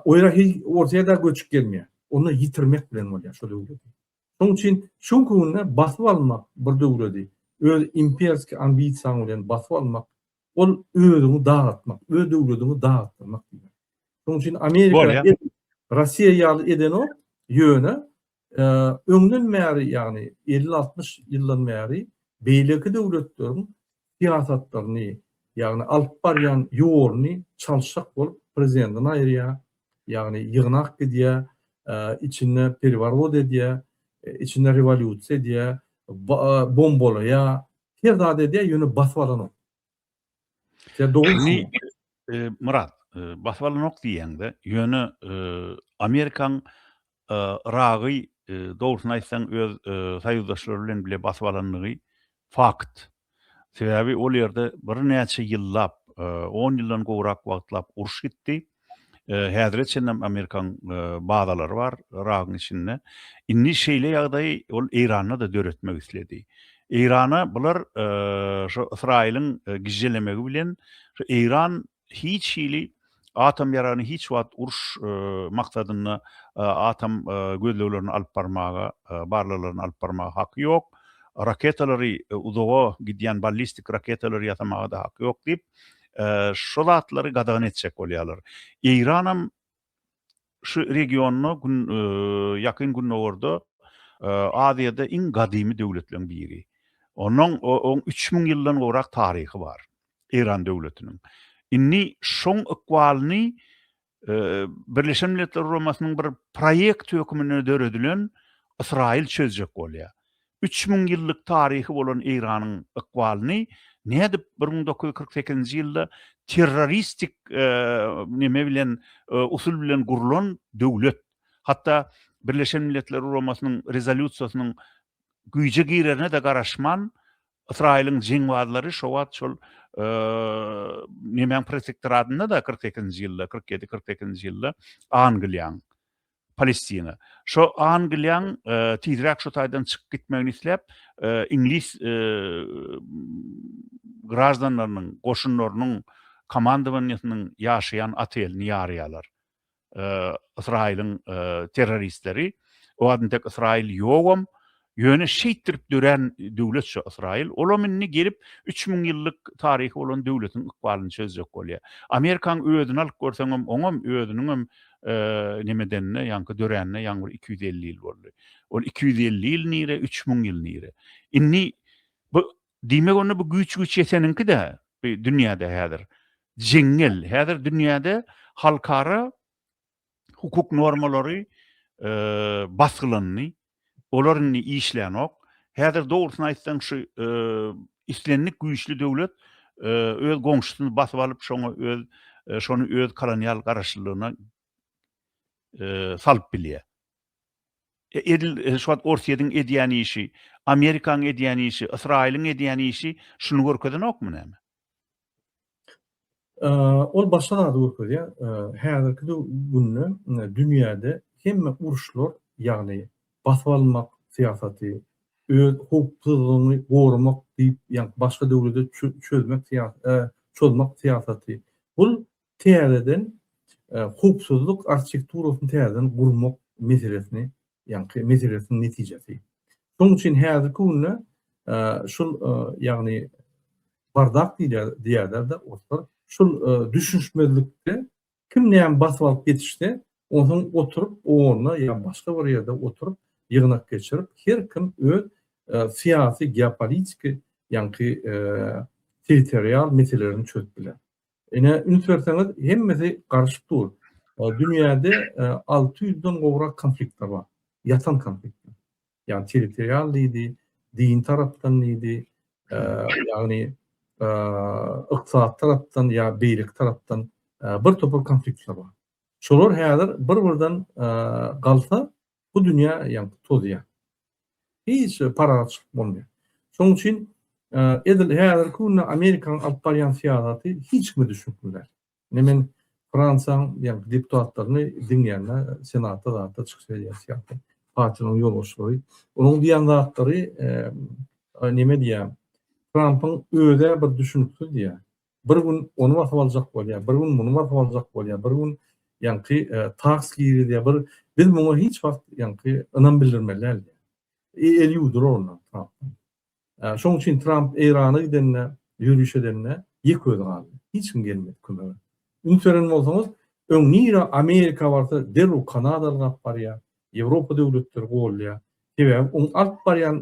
o ýere hiç Orsýetde göçüp gelmeýär. Ony ýitirmek bilen bolýar şo döwleti. Şonuň üçin şu günde basyp almak bir döwleti öz imperski ambisiýaň bilen basyp almak ol özüňi dagtmak, öz döwletiňi dagtmak diýmek. Şonuň üçin Amerika Rossiýa ýaly edenok, ýöne Öňden bäri, ýagny elli-altmyş ýyldan bäri beýleki döwletleriň syýasatlaryny, ýagny alyp barýan ýoluny çalşak bolup prezidentini aýyrýar, ýagny ýygnak gidýär, içinde perworot edýär, içinde rewolýusiýa edýär, bombalaýar, her zat edýär, ýöne basyp alanok. Sen dogry e, Murat, e, basyp alynok diýende, ýöne e, Amerikaň Iragy dogrusyny aýtsaň öz soýuzdaşlary bilen bile basyp alandygy fakt. Sebäbi ol ýerde birnäçe ýyllap, 10 ýyldan gowrak wagtlap uruş gitdi. Häzire çenlem amerikan bazalary bar Yragyň içinde. Indi şeýle ýagdaýy ol Eýranda-da döretmek isledi. Eýrana bular şu Ysraýylyň gižželemegi bilen şu Eýran hiç hili atom ýaragyny hiç wagt uruş maksadynda atom gözleglerini alyp barmaga, barlaglaryny alyp barmaga haky ýok. Raketalary uzaga gidýän ballistik raketalary ýasamaga-da haky ýok diýip, şo zatlary gadagan etjek bolýarlar. Eýranam şu regionda gün ýakyn gündogarda Aziýada iň gadymy döwletleriň biri. Onuň oň üç müň ýyldan gowrak taryhy bar. Eýran döwletiniň. Indi şoň ykbalyny Birleşen Milletler Guramasynyň bir proýekti hökmünde döredilen Ysraýyl çözjek bolýar. Üç müň ýyllyk taryhy bolan Eýranyň ykbalyny nädip bir müň dokuz ýüz kyrk sekizinji ýylda terroristik neme bilen usul bilen gurlan döwlet, hatda Birleşen Milletler Guramasynyň rezolýusiýasynyň güýje girerine-de garaşman, Ysraýylyň jeňbazlary şo wagt şol nemäň protektoratynda-da kyrk sekizinji ýylda, kyrk ýedi, kyrk sekizinji ýylda Angliýaň, Palestina. Şo Angliýaň tizräk şo taýdan çykyp gitmegini isläp, iňlis graždanlarynyň, goşunlarynyň komandowaniýesiniň ýaşaýan otelini ýarýarlar. Ysraýylyň terroristleri. O adam tek Ysraýyl ýogam. Ýöne şeýtdirip dörän döwlet şu Ysraýyl. Olam indi gelip 3000 ýyllyk taryhy bolan döwletiň ykbalyny çözjek bolýar. Amerikaň özüni alyp görseňem, oňam özüniňem nimedenine, ýaňky döränine ýaňy bir 250 ýyl boldy. Ol 250 ýyl nire, 3000 ýyl nire. Indi bu Diýmek onda bu güýç güýç ýeteniňki-dä dünýäde häzir. Jeňňel. Häzir dünýäde halkara hukuk normalary basgylandy. Olar indi işlänok. Häzir dogrusyny aýtsaň şu islendik güýçli döwlet öz goňşusyny basyp alyp şoňa öz şony öz kolonial garaşlylygyna salyp bilýär. Edil şu wagt Orsýetiň edýän işi, Amerikaň edýän işi, Ysraýylyň edýän işi şuny görkezenokmy näme? Ol başga zady görkezýär. Häzirki günde dünýäde hemme uruşlar, ýagny basyp almak syýasaty, öz howpsuzlygyňy goramak diýip, ýa başga döwlete çözmek çozmak syýasaty, bul Täzeden howpsuzlyk arhitekturasyny täzeden gurmak meselesini, ýaňky meselesiniň netijesi. Şonuň üçin häzirki günde şul, ýagny bardak diýýärler-de oruslar, şul düşünişmezlikde kim näme basyp alyp ýetişse, onsoň oturyp o orna ýa başga bir ýerde oturyp, ýygnak geçirip, her kim öz syýasy, geopolitiki, ýaňky territorial meselelerini çözüp biler. Ine üns berseňiz hemmesi garyşyp dur. Dünýäde alty ýüzden gowrak konfliktler bar. Ýatan konfliktler. Ýagny territorial diýdi, din tarapdan diýdi, ýagny ykdysat tarapdan ýa beýleki tarapdan bir topar konfliktler bar. Şolar häzir bir-birden galsa Bu dünýä ýaňky tozýar. Hiç bir parahat çykyp bolmaýar. Şonuň üçin edil häzirki günde Amerikanyň alyp barýan syýasaty hiç kime düşnükli däl. Ine men Fransiýanyň ýaňky deputatlaryny diňleýände senatda zatda çykyş edýän syýasy partiýanyň ýolbaşçylary onuň diýen zatlary neme diýýär Trampyň özä bir düşnüksiz diýýär. Bir gün ony basyp aljak bolýar, bir gün muny basyp aljak bolýar, bir gün ýaňky taks girizýär, bir biz muňa hiç wagt ýaňky ynam bildirmeli däl diýýär. El ýuwdurar ondan Trampdan. Şoň üçin Tramp Eýrana gidende, ýöriş edende ýeke özi galdy. Hiç kim gelmedi kömege. Üns beren bolsaňyz, öň nirä Amerika barsa derrew kanadaly gap barýar. Ýewropa döwletleri goldýar. Sebäbi oň alyp barýan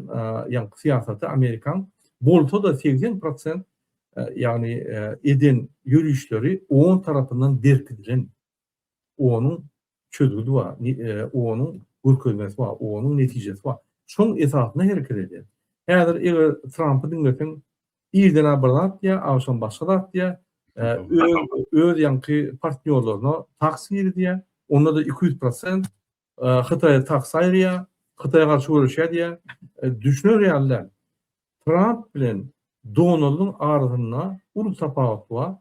ýaňky syýasaty amerikan bolsada segsen prosent ýagny eden ýörişleri on tarapyndan berkidilen. Onuň çözgüdi bar, onuň görkezmesi bar, onuň netijesi bar. Şoň esasynda hereket edýär. Häzir eger Trampy diňleseň Irden-ä bir zat diýýär, agşam başga zat diýýär. Öz ýaňky partnýorlaryna taks girizýär. Onda-da iki ýüz prosent Hytaýa taks aýyrýar, Hytaýa garşy göreşýär diýýär. Düşüner ýaly däl. Tramp bilen Donaldyň arasynda uly tapawut bar.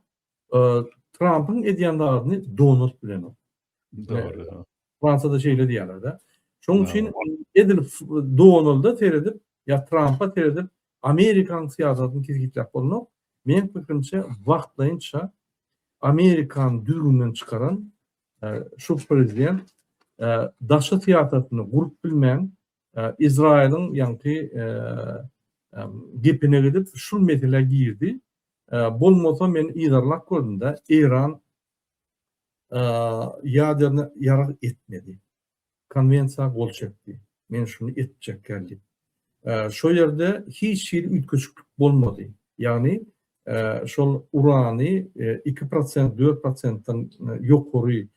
Trampyň edýän zadyny donat bilen ur. Dogry. Fransada şeýle diýýärler-de. Şonuň üçin edil Donalda seredip, ýa Trampa seredip, Amerikanyň syýasatyny kesgitläp bolunok. Men pikrimçe, wagtlaýynça Amerikany düzgünden çykaran e, şu prezident e, daşy syýasatyny gurup bilmän, Izraýylyň ýaňky gepine gidip şul meselä girdi. Bolmasa men yzarlap gördüm-de, Eýran ýaderny ýarag etmedi. Konwensiýa gol çekdi. Men şuny etjekkäm diýip. Şo ýerde hiç hili üýtgeşiklik bolmady. Ýagny şol urany 2%, 4%-den ýokary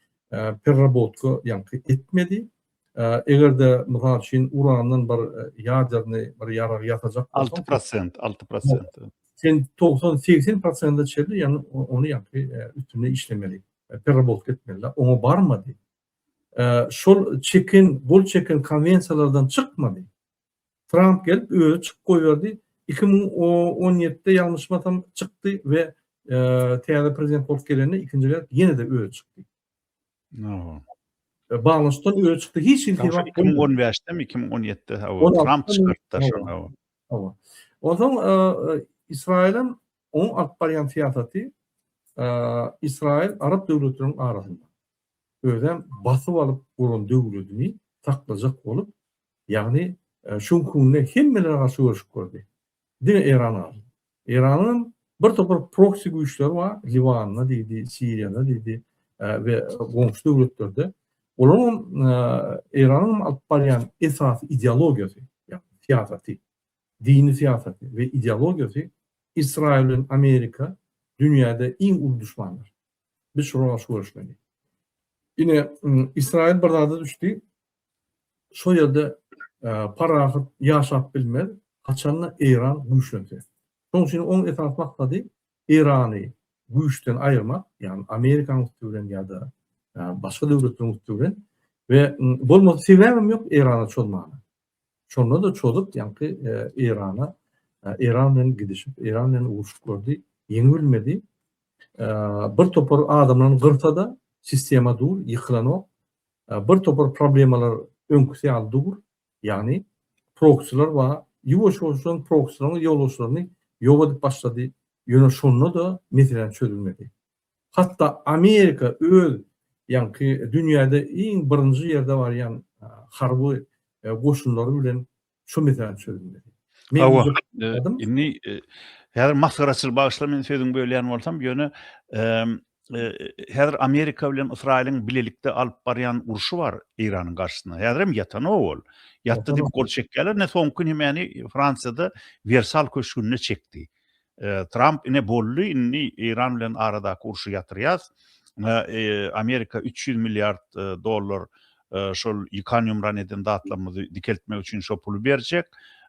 perrabotka ýaňky etmedi. Eger-de, mysal üçin, urandan bir ýaderny bir ýarag ýasajak bolsaň. Alty prosent, alty prosent. Sen togsan, segsen prosente çenli, ýagny ony ýaňky üstünde işlemeli, perrabolka etmeli. Oňa barmady. Şol çeken, gol çeken konwensiýalardan çykmady. Tramp gelip, özi çykyp goýberdi. Iki müň on ýedide, ýalňyşmasam, çykdy we täze prezident bolup gelende ikinji gezek ýene-de özi çykdy. Hawa. E, Baglaşdan öne çykdy. Hiç hili sebap bolmady. 2015-demi, 2017-de hawa, Tramp çykartdy şony hawa. Hawa. Onsoň e, e, Israil hem onuň alyp barýan syýasaty e, Israil arap döwletleriniň arasynda özem basyp alyp guran döwletini saklajak bolup, ýagny e, şoň günde hemmelere garşy görüşip gördi. Diňe Eran galdy. Eýranyň bir topar proksi güýçleri bar, Liwanda diýdi, Siriýada diýdi we goňşy döwletlerde. Olaryň Eýranyň alyp barýan esasy ideologiýasy, ýagny syýasaty, dini syýasaty we ideologiýasy Israýyl bilen Amerika dünýäde iň uly duşmandyr. Biz şolara garşy göreşmeli. Ine, Israýyl bir zada düşdi, şo ýerde parahat ýaşap bilmez, haçan-da Eýran güýçlense. Şonuň üçin oň esasy maksady Eýrany güýçden aýyrmak, ýagny Amerikanyň üsti bilen ýa-da başga döwletleriň üsti bilen we bolmasa sebäbem ýok Eýrana çozmaga. Şonda-da çozup, ýaňky Eýrana, Eýran bilen gidişip, Eýran bilen uruşyklary ýeňip bilmedi. Bir topar adamlaryny gyrsa-da, sistema dur, ýykylanok. Bir topar problemalar öňküsi ýaly dur, ýagny proksiler bar, ýuwaş-ýuwaşdan proksileriň ýolbaşçylaryny ýok edip başlady, ýöne şonda-da meseläniň çözülmedi. Hatda Amerika öz ýaňky dünýäde iň birinji ýerde barýan harby goşunlary bilen Şu misal çözülmeli. Hawa, indi häzir masgaraçyl bagyşla men sözüň bölýän bolsam, ýöne häzir Amerika bilen Ysraýylyň bilelikde alyp barýan urşy bar Eýranyň garşysyna. Häzirem ýatanok ol. Ýatdy diýip gol çekýärler. Ne soňky nemäni Fransiýada Wersal köşgünde çekdi. Tramp ine boldy indi Eýran bilen aradaky urşy ýatyrýas. Amerika üç ýüz milliard dollar şol ýykan ýumran eden zatlarymyzy dikeltmek üçin şo puly berjek.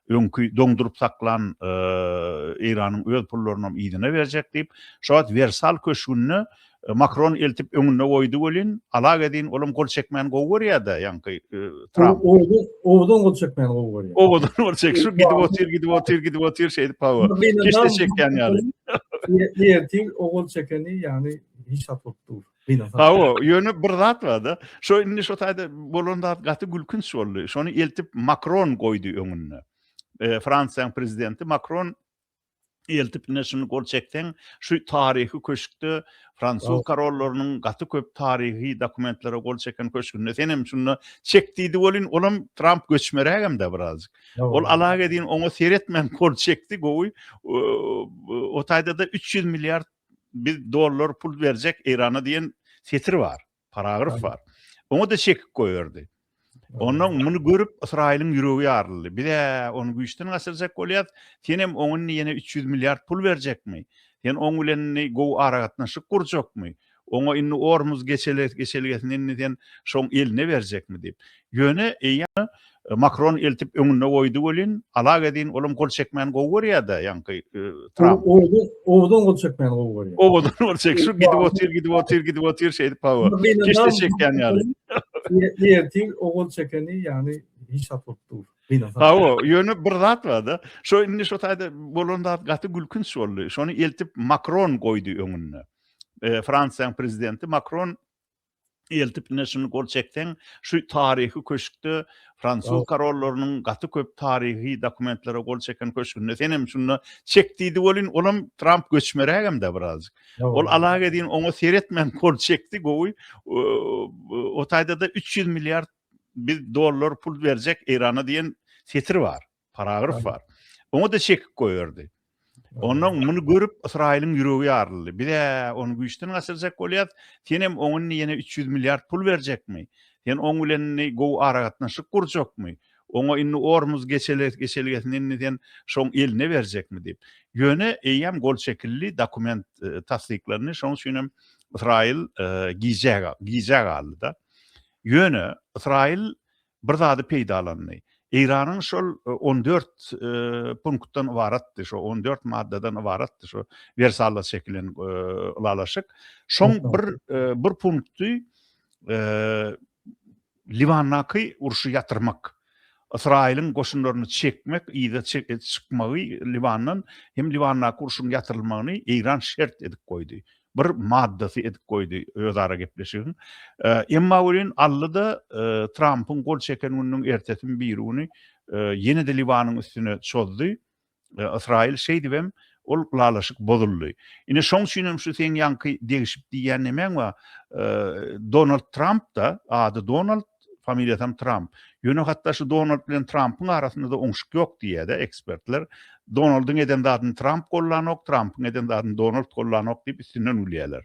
Öňki doňduryp saklan Eýranyň öz pullarynam yzyna berjek diýip, şo wagt Wersal köşgünde Makron eltip öňünde goýdy welin, alak edin, olam gol çekmäni gowy görýär-de, ýaňky Tramp. Owadan gol çekmäni gowy görýär. Owadan gol çek, şu gidip otyr, gidip otyr, gidip otyr şeýdip hawa. Keşde çekýän ýaly. Ertir o gol çekeni, ýagny hiç hat bolup dur. Hawa, ýöne bir zat bar-da. Şo indi şo taýda bolan zat gaty gülkünç boldy. Şony eltip Makron goýdy öňünde. Fransiýanyň prezidenti Makron eltip ine şuny gol çekseň şu taryhy köşkde fransuz korollarynyň gaty köp taryhy dokumentlere gol çeken köşgünde sen hem şunda çek diýdi welin ol hem tramp göçmeräk hem de birazjyk ol alag edin oňa seretmän gol çekdi gowy o taýda da 300 milliard bir dollar pul berjek eýrana diýen setir bar paragraf bar. Oňa-da çekip goýberdi. Ondan muny görüp Ysraýylyň ýüregi ýaryldy. Biz-ä ony güýçden gaçyrjak bolýarys. Senem oň indi ýene üç ýüz milliard pul berjekmi? Sen oň bilen indi gowy aragatnaşyk gurjakmy? Oňa indi Ormuz geçelgesini indi sen şoň eline berjekmi? diýip. Ýöne eýýäm Makron eltip öňünde goýdy welin, Alak edin, olam gol çekmäni gowy görýär-dä, ýaňky Tramp. Owadan, owadan gol çekmäni gowy görýär. Owadan gol çek, şu gidip otyr, gidip otyr, gidip otyr şeýdip hawa. Keşde çekýän ýaly. Ertir o gol çekeni ýagny hiç zat bolup dur. Hawa, ýöne bir zat bar-da. Şo indi şo taýda bolan zat gaty gülkünç boldy. Şony eltip Makron goýdy öňünde. Fransiýanyň prezidenti Makron eltip ine şuny gol çekseň şu taryhy köşkde fransuz korollarynyň gaty köp taryhy dokumentlere gol çeken köşgünde sen hem şunda çek diýdi welin ol hem tramp göçmeräk hem de birazjyk ol alag edin oňa seretmän gol çekdi gowy o taýda da 300 milliard bir dollar pul berjek eýrana diýen setir bar paragraf bar. Oňa-da çekip goýberdi. Ondan muny görüp Ysraýylyň ýüregi ýaryldy. Biz ony güýçden gaçyrjak bolýas. Sen hem oňa indi ýene 300 milliard pul berjekmi? Sen oň bilen indi gowy aragatnaşyk gurjakmy? Oňa indi Ormuz geçelgesini indi sen şoň eline berjekmi diýip. Ýöne eýýäm gol çekildi, dokument tassyklandy. Şonuň üçin hem Ysraýyl gijä gijä galdy-da. Ýöne Ysraýyl bir zady peýdalandy. Eýranyň şol on dört punktdan ybaratdy, şo on dört maddadan ybaratdy şo Wersalla çekilen ylalaşyk. Şoň bir bir punkty Liwandaky urşy ýatyrmak. Ysraýylyň goşunlaryny çekmek, yza çykmagy Liwandan hem Liwandaky urşuň ýatyrylmagyny Eýran şert edip goýdy. bir maddasy edip goýdy özara gepleşigiň. Emma welin aldy-da, Trampyň gol çeken gününiň ertesimi birigüni ýene-de Liwanyň üstüne çozdy. Ysraýyl şeýdibem, ol ylalaşyk bozuldy. Ine, şoň üçinem şu seň ýaňky degişip diýýän nemäň bar, Donald Tramp-da, ady Donald, familiýasam Tramp. Ýöne hatda şu Donald bilen Trampyň arasynda-da oňşuk ýok diýýär-dä ekspertler. Donaldyň eden zadyny Tramp gollanok, Trampyň eden zadyny Donald gollanok diýip üstünden gülýärler.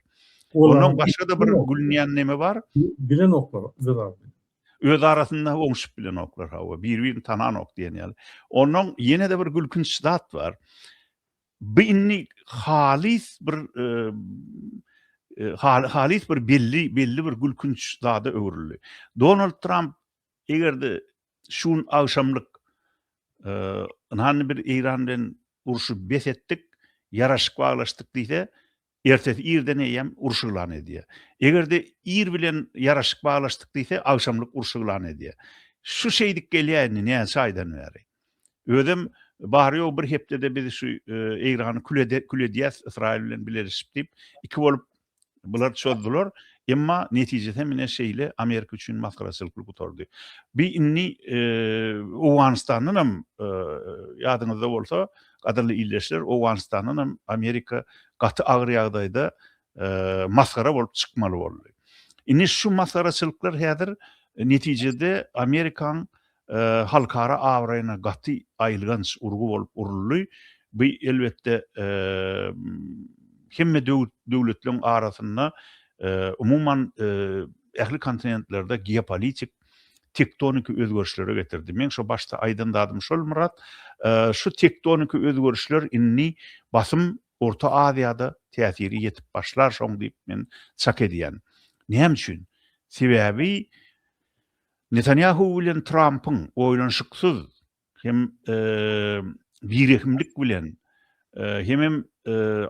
Ondan başga-da bir gülünýän neme bar? Bilenoklar öz aralarynda. Öz arasynda oňşup bilenoklar, hawa, biri-birini tananok diýen ýaly. Ondan ýene-de bir gülkünç zat bar. Bu indi halys bir halys bir belli belli bir gülkünç zada öwrüldi. Donald Tramp eger-de şu gün agşamlyk ynhany bir Eýran bilen urşy bes etdik, ýaraşyk baglaşdyk diýse, Ertesi irden eýýäm uruş yglan edýär. Eger-de ir bilen ýaraşyk baglaşdyk diýse, agşamlyk uruş yglan edýär. Şu şeýdip gelýär indi näçe aýdan bäri. Özem bary-ýogy bir hepdede biz şu Eýrany kül kül edýäs Ysraýyl bilen bileleşip diýip, iki bolup bular çozdular. Emma netijesi hem ine şeýle Amerika üçin masgaraçylyk bolup gutardy. Bi indi Owganystandan hem ýadyňyzda bolsa, Gadyrly ildeşler Owganystandan hem Amerika gaty agyr ýagdaýda masgara bolup çykmaly boldy. Indi şu masgaraçylyklar häzir netijede Amerikaň halkara abraýyna gaty aýylganç urgy bolup uruldy. Bu elbetde hemme döwletleriň arasynda umuman ähli kontinentlerde geopolitik tektoniki özgerişlere getirdi. Meň şo başda aýdan zadym şol Myrat, şu tektoniki özgerişler indi basym Orta Aziýada täsiri ýetip başlar şoň diýip men çak edýän. Näme üçin? Sebäbi Netanýahu bilen Trampyň oýlanyşyksyz hem birehimlik bilen hemem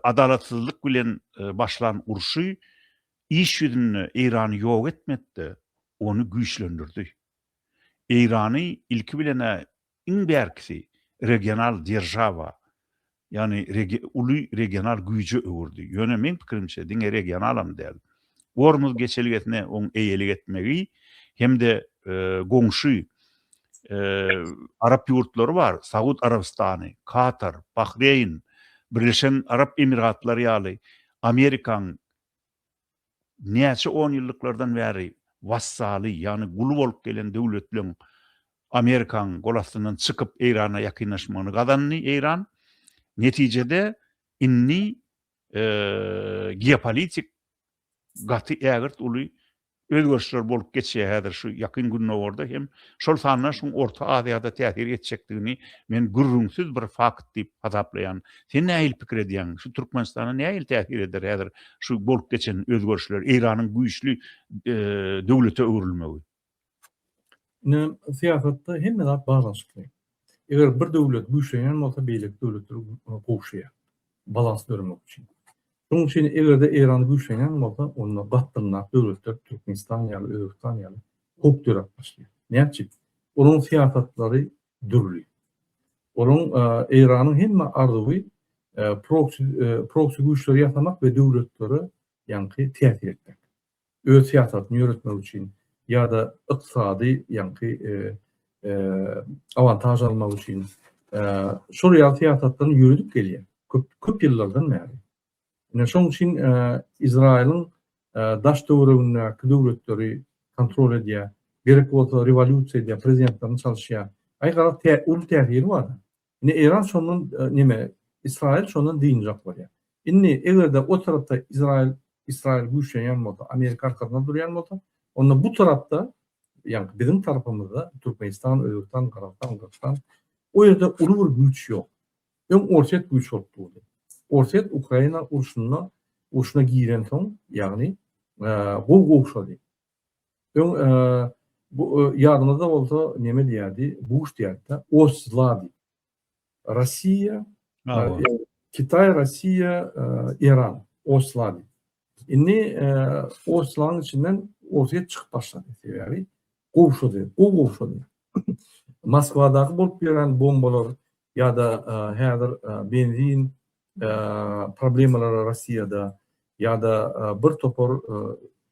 adalatsyzlyk bilen başlan urşy Iş ýüzünde Eýrany ýok etmekde ony güýçlendirdi. Eýrany ilki bilen-ä iň bärkisi regional deržawa, ýagny uly regional güýje öwürdi. Ýöne meň pikirimçe diňe regionalam däl, Gormuz geçelgesine oň eýelik etmegi hem-de goňşy arap ýurtlary bar, Saud Arabystany, Katar, Bahreýn, Birleşen Arap Emiratlary ýaly Amerikaň näçe onýyllyklardan bäri wassaly, ýagny guly bolup gelen döwletleň Amerikanyň gol astyndan çykyp Eýrana ýakynlaşmagyny gazandy Eýran. Netijede indi geopolitik gaty ägirt uly özgerişler bolup geçýär häzir şu Ýakyn Gündogarda hem şol sanda şuň Orta Aziýada täsir etjekdigini men gürrüňsiz bir fakt diýip hasaplaýan. Sen nähili pikir edýäň? Şu Türkmenistana nähili täsir eder häzir şu bolup geçen özgerişler Eýranyň güýçli döwlete öwrülmegi? Ine, syýasatda hemme zat baglanyşykly. Eger bir döwlet güýçlenýän bolsa, beýleki döwletler gowşaýar, balans döremek üçin. Şonuň üçin eger-de Eýran güýçlenýän bolsa, onda gatdynrak döwletler Türkmenistan ýaly, Özbegistan ýaly howp döräp başlaýar. Näçe? Olaryň syýasatlary dürli. Olaryň Eýranyň hemme arzuwy proksi proksi güýçleri ýasamak we döwletlere ýaňky täsir etmek. öz syýasatyny ýöretmek üçin ýa-da ykdysady ýaňky awantaž almak üçin şol ýaly syýasatlaryny ýöredip gelýär köp ýyllardan bäri. Ine şonuň üçin Izraýylyň daş-töweregindäki döwletleri kontrol edýär, gerek bolsa rewolýusiýa edýär, prezidentlerini çalyşýar. Aý garaz, uly täsiri bar. Indi Eýran şondan neme Israil şondan dynjak bolýar. Indi eger-de o tarapda Izrail Israil güýçlenýän bolsa, Amerika arkasynda durýan bolsa, onda bu tarapda ýagny biziň tarapymyzda Türkmenistan, Özbegistan, Gazagystan, Gyrgyzystan o ýerde uly bir güýç ýok. Öň Orsýet güýç bolup durdy. Orsýet Ukraina urşunda urşuna giren soň, ýagny gowy gowşady. Öň bu ýadyňyzda bolsa neme diýýärdi? Buş diýýärdi-de, Oç-zla diýip. Rossiýa, Kitay, Rossiýa, Eran, Oç-zla diýip. Indi Oç-zlaň içinden Orsýet çykyp başlady. Sebäbi gowşady, gowy gowşady. Moskwadaky bolup ýören bombalar ýa-da häzir benzin, problemalary Russiýada ýa-da bir topar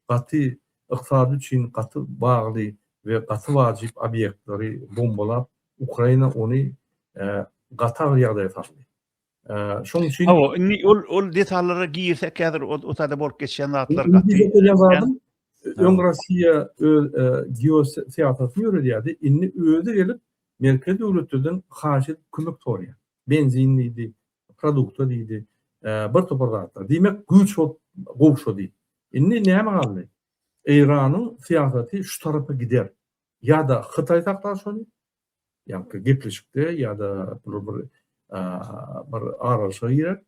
gaty ykdysady üçin gaty bagly we gaty wajyp obýektleri bombalap, Ukraina ony gaty agyr ýagdaýa saldy. Şoň üçin Hawa, indi ol ol detallara girsek häzir o sada bolup geçýän zatlar gaty. Öň Russiýa öz geosyýasatyny ýöredýärdi, indi özi gelip Merkezi döwletlerden haýyş edip kömek soraýar. benzin diýdi, produkta diýdi, bir topar zatlar. Diýmek, güýç bolup gowşady. Indi näme galdy? Eýranyň syýasaty şu tarapa gider. Ýa-da Hytaý saklar şony, ýa-da gepleşikde, ýa-da bir bir aralaşyga girer,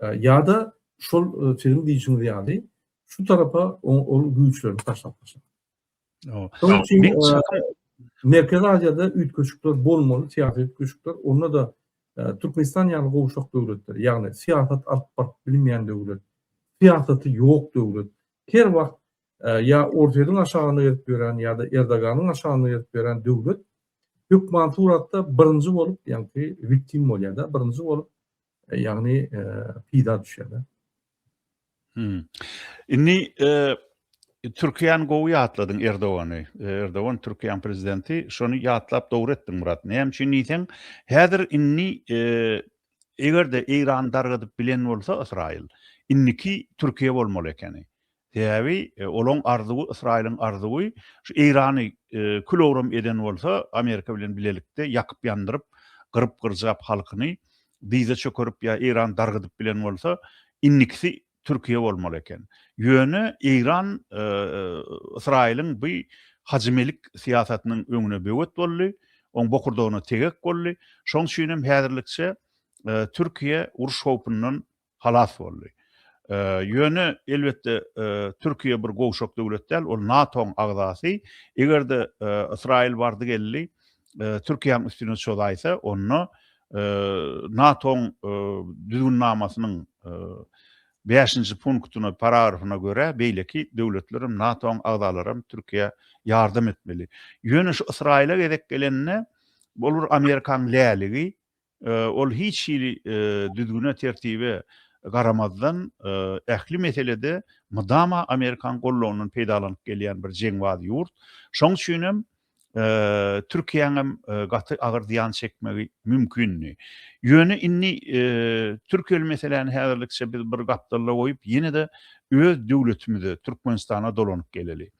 ýa-da şol siziň diýişiňiz ýaly şu tarapa ol güýçlerini taşlap başlar. Merkezi Aziýada üýtgeşikler bolmaly, syýasy üýtgeşikler, onda-da Türkmenistan ýaly gowşak döwletler, ýagny syýasat alyp baryp bilmeýän döwlet, syýasaty ýok döwlet, her wagt ýa Orsýetiň aşagyna gelip ýören ýa-da Erdoganyň aşagyna gelip ýören döwlet hökman suratda birinji bolup, ýagny wiktim bolýar-da, birinji bolup Ýagny pida düşýär. Hmm. Inni Türkiýäni gowy ýatladyň Erdogany. Erdogan Türkiýäň prezidenti, şony ýatlap dogry etdiň Murat. Näme üçin diýseň, häzir inni e, eger-de Eýran dargadyp bilen bolsa Ysraýyl, inniki Türkiýe bolmaly ekeni. Sebäbi olaň arzuwy, Ysraýylyň arzuwy şu Eýrany kül-owram eden bolsa, Amerika bilen bilelikde ýakyp-ýandyryp, gyryp-gyrjap halkyny dyza çökerip ýa Eýrany dargadyp bilen bolsa, indikisi Türkiýe bolmaly eken. Ýöne Eýran Ysraýylyň bu hajymelik syýasatynyň öňüne böwet boldy, oň bokurdagyna tegek boldy. Şoň üçinem häzirlikçe Türkiýe uruş howpundan halas boldy. Ýöne, elbetde, Türkiýe bir gowşak döwlet däl, ol NATO-nyň agzasy. Eger-de Ysraýyl bardy-geldi Türkiýäniň üstüne çozaýsa, onda NATO-nyň düzgünnamasynyň bäşinji punktyna, paragrafyna görä, beýleki döwletler hem, NATO-nyň agzalary hem Türkiýä ýardam etmeli. Ýöne şu Ysraýyla gezek gelende, ol bir Amerikanyň läligi, Ol hiç hili düzgüne, tertibe garamazdan, ähli meselede mydama Amerikan gollagyndan peýdalanyp gelýän bir jeňbaz ýurt. Şoň üçin hem Türkiýäň hem gaty agyr zyýan çekmegi mümkindi. Ýöne indi türkiýeli meseläni häzirlikçe biz bir gapdalda goýup, ýene-de öz döwletimize, Türkmenistana dolanyp geleli.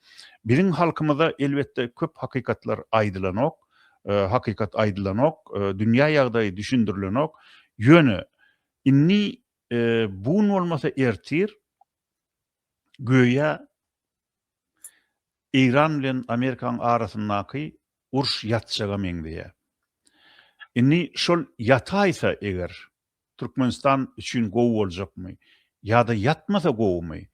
Biziň halkymyza elbetde köp hakykatlar aýdylanok. hakykat aýdylanok, dünýä ýagdaýy düşündirilenok. Ýöne indi bu gün bolmasa ertir göýä Eýran bilen Amerikanyň arasyndaky uruş ýatjaga meňzeýär. Indi şol ýataýsa eger, Türkmenistan üçin gowy boljakmy? Ýa-da ýatmasa gowumy?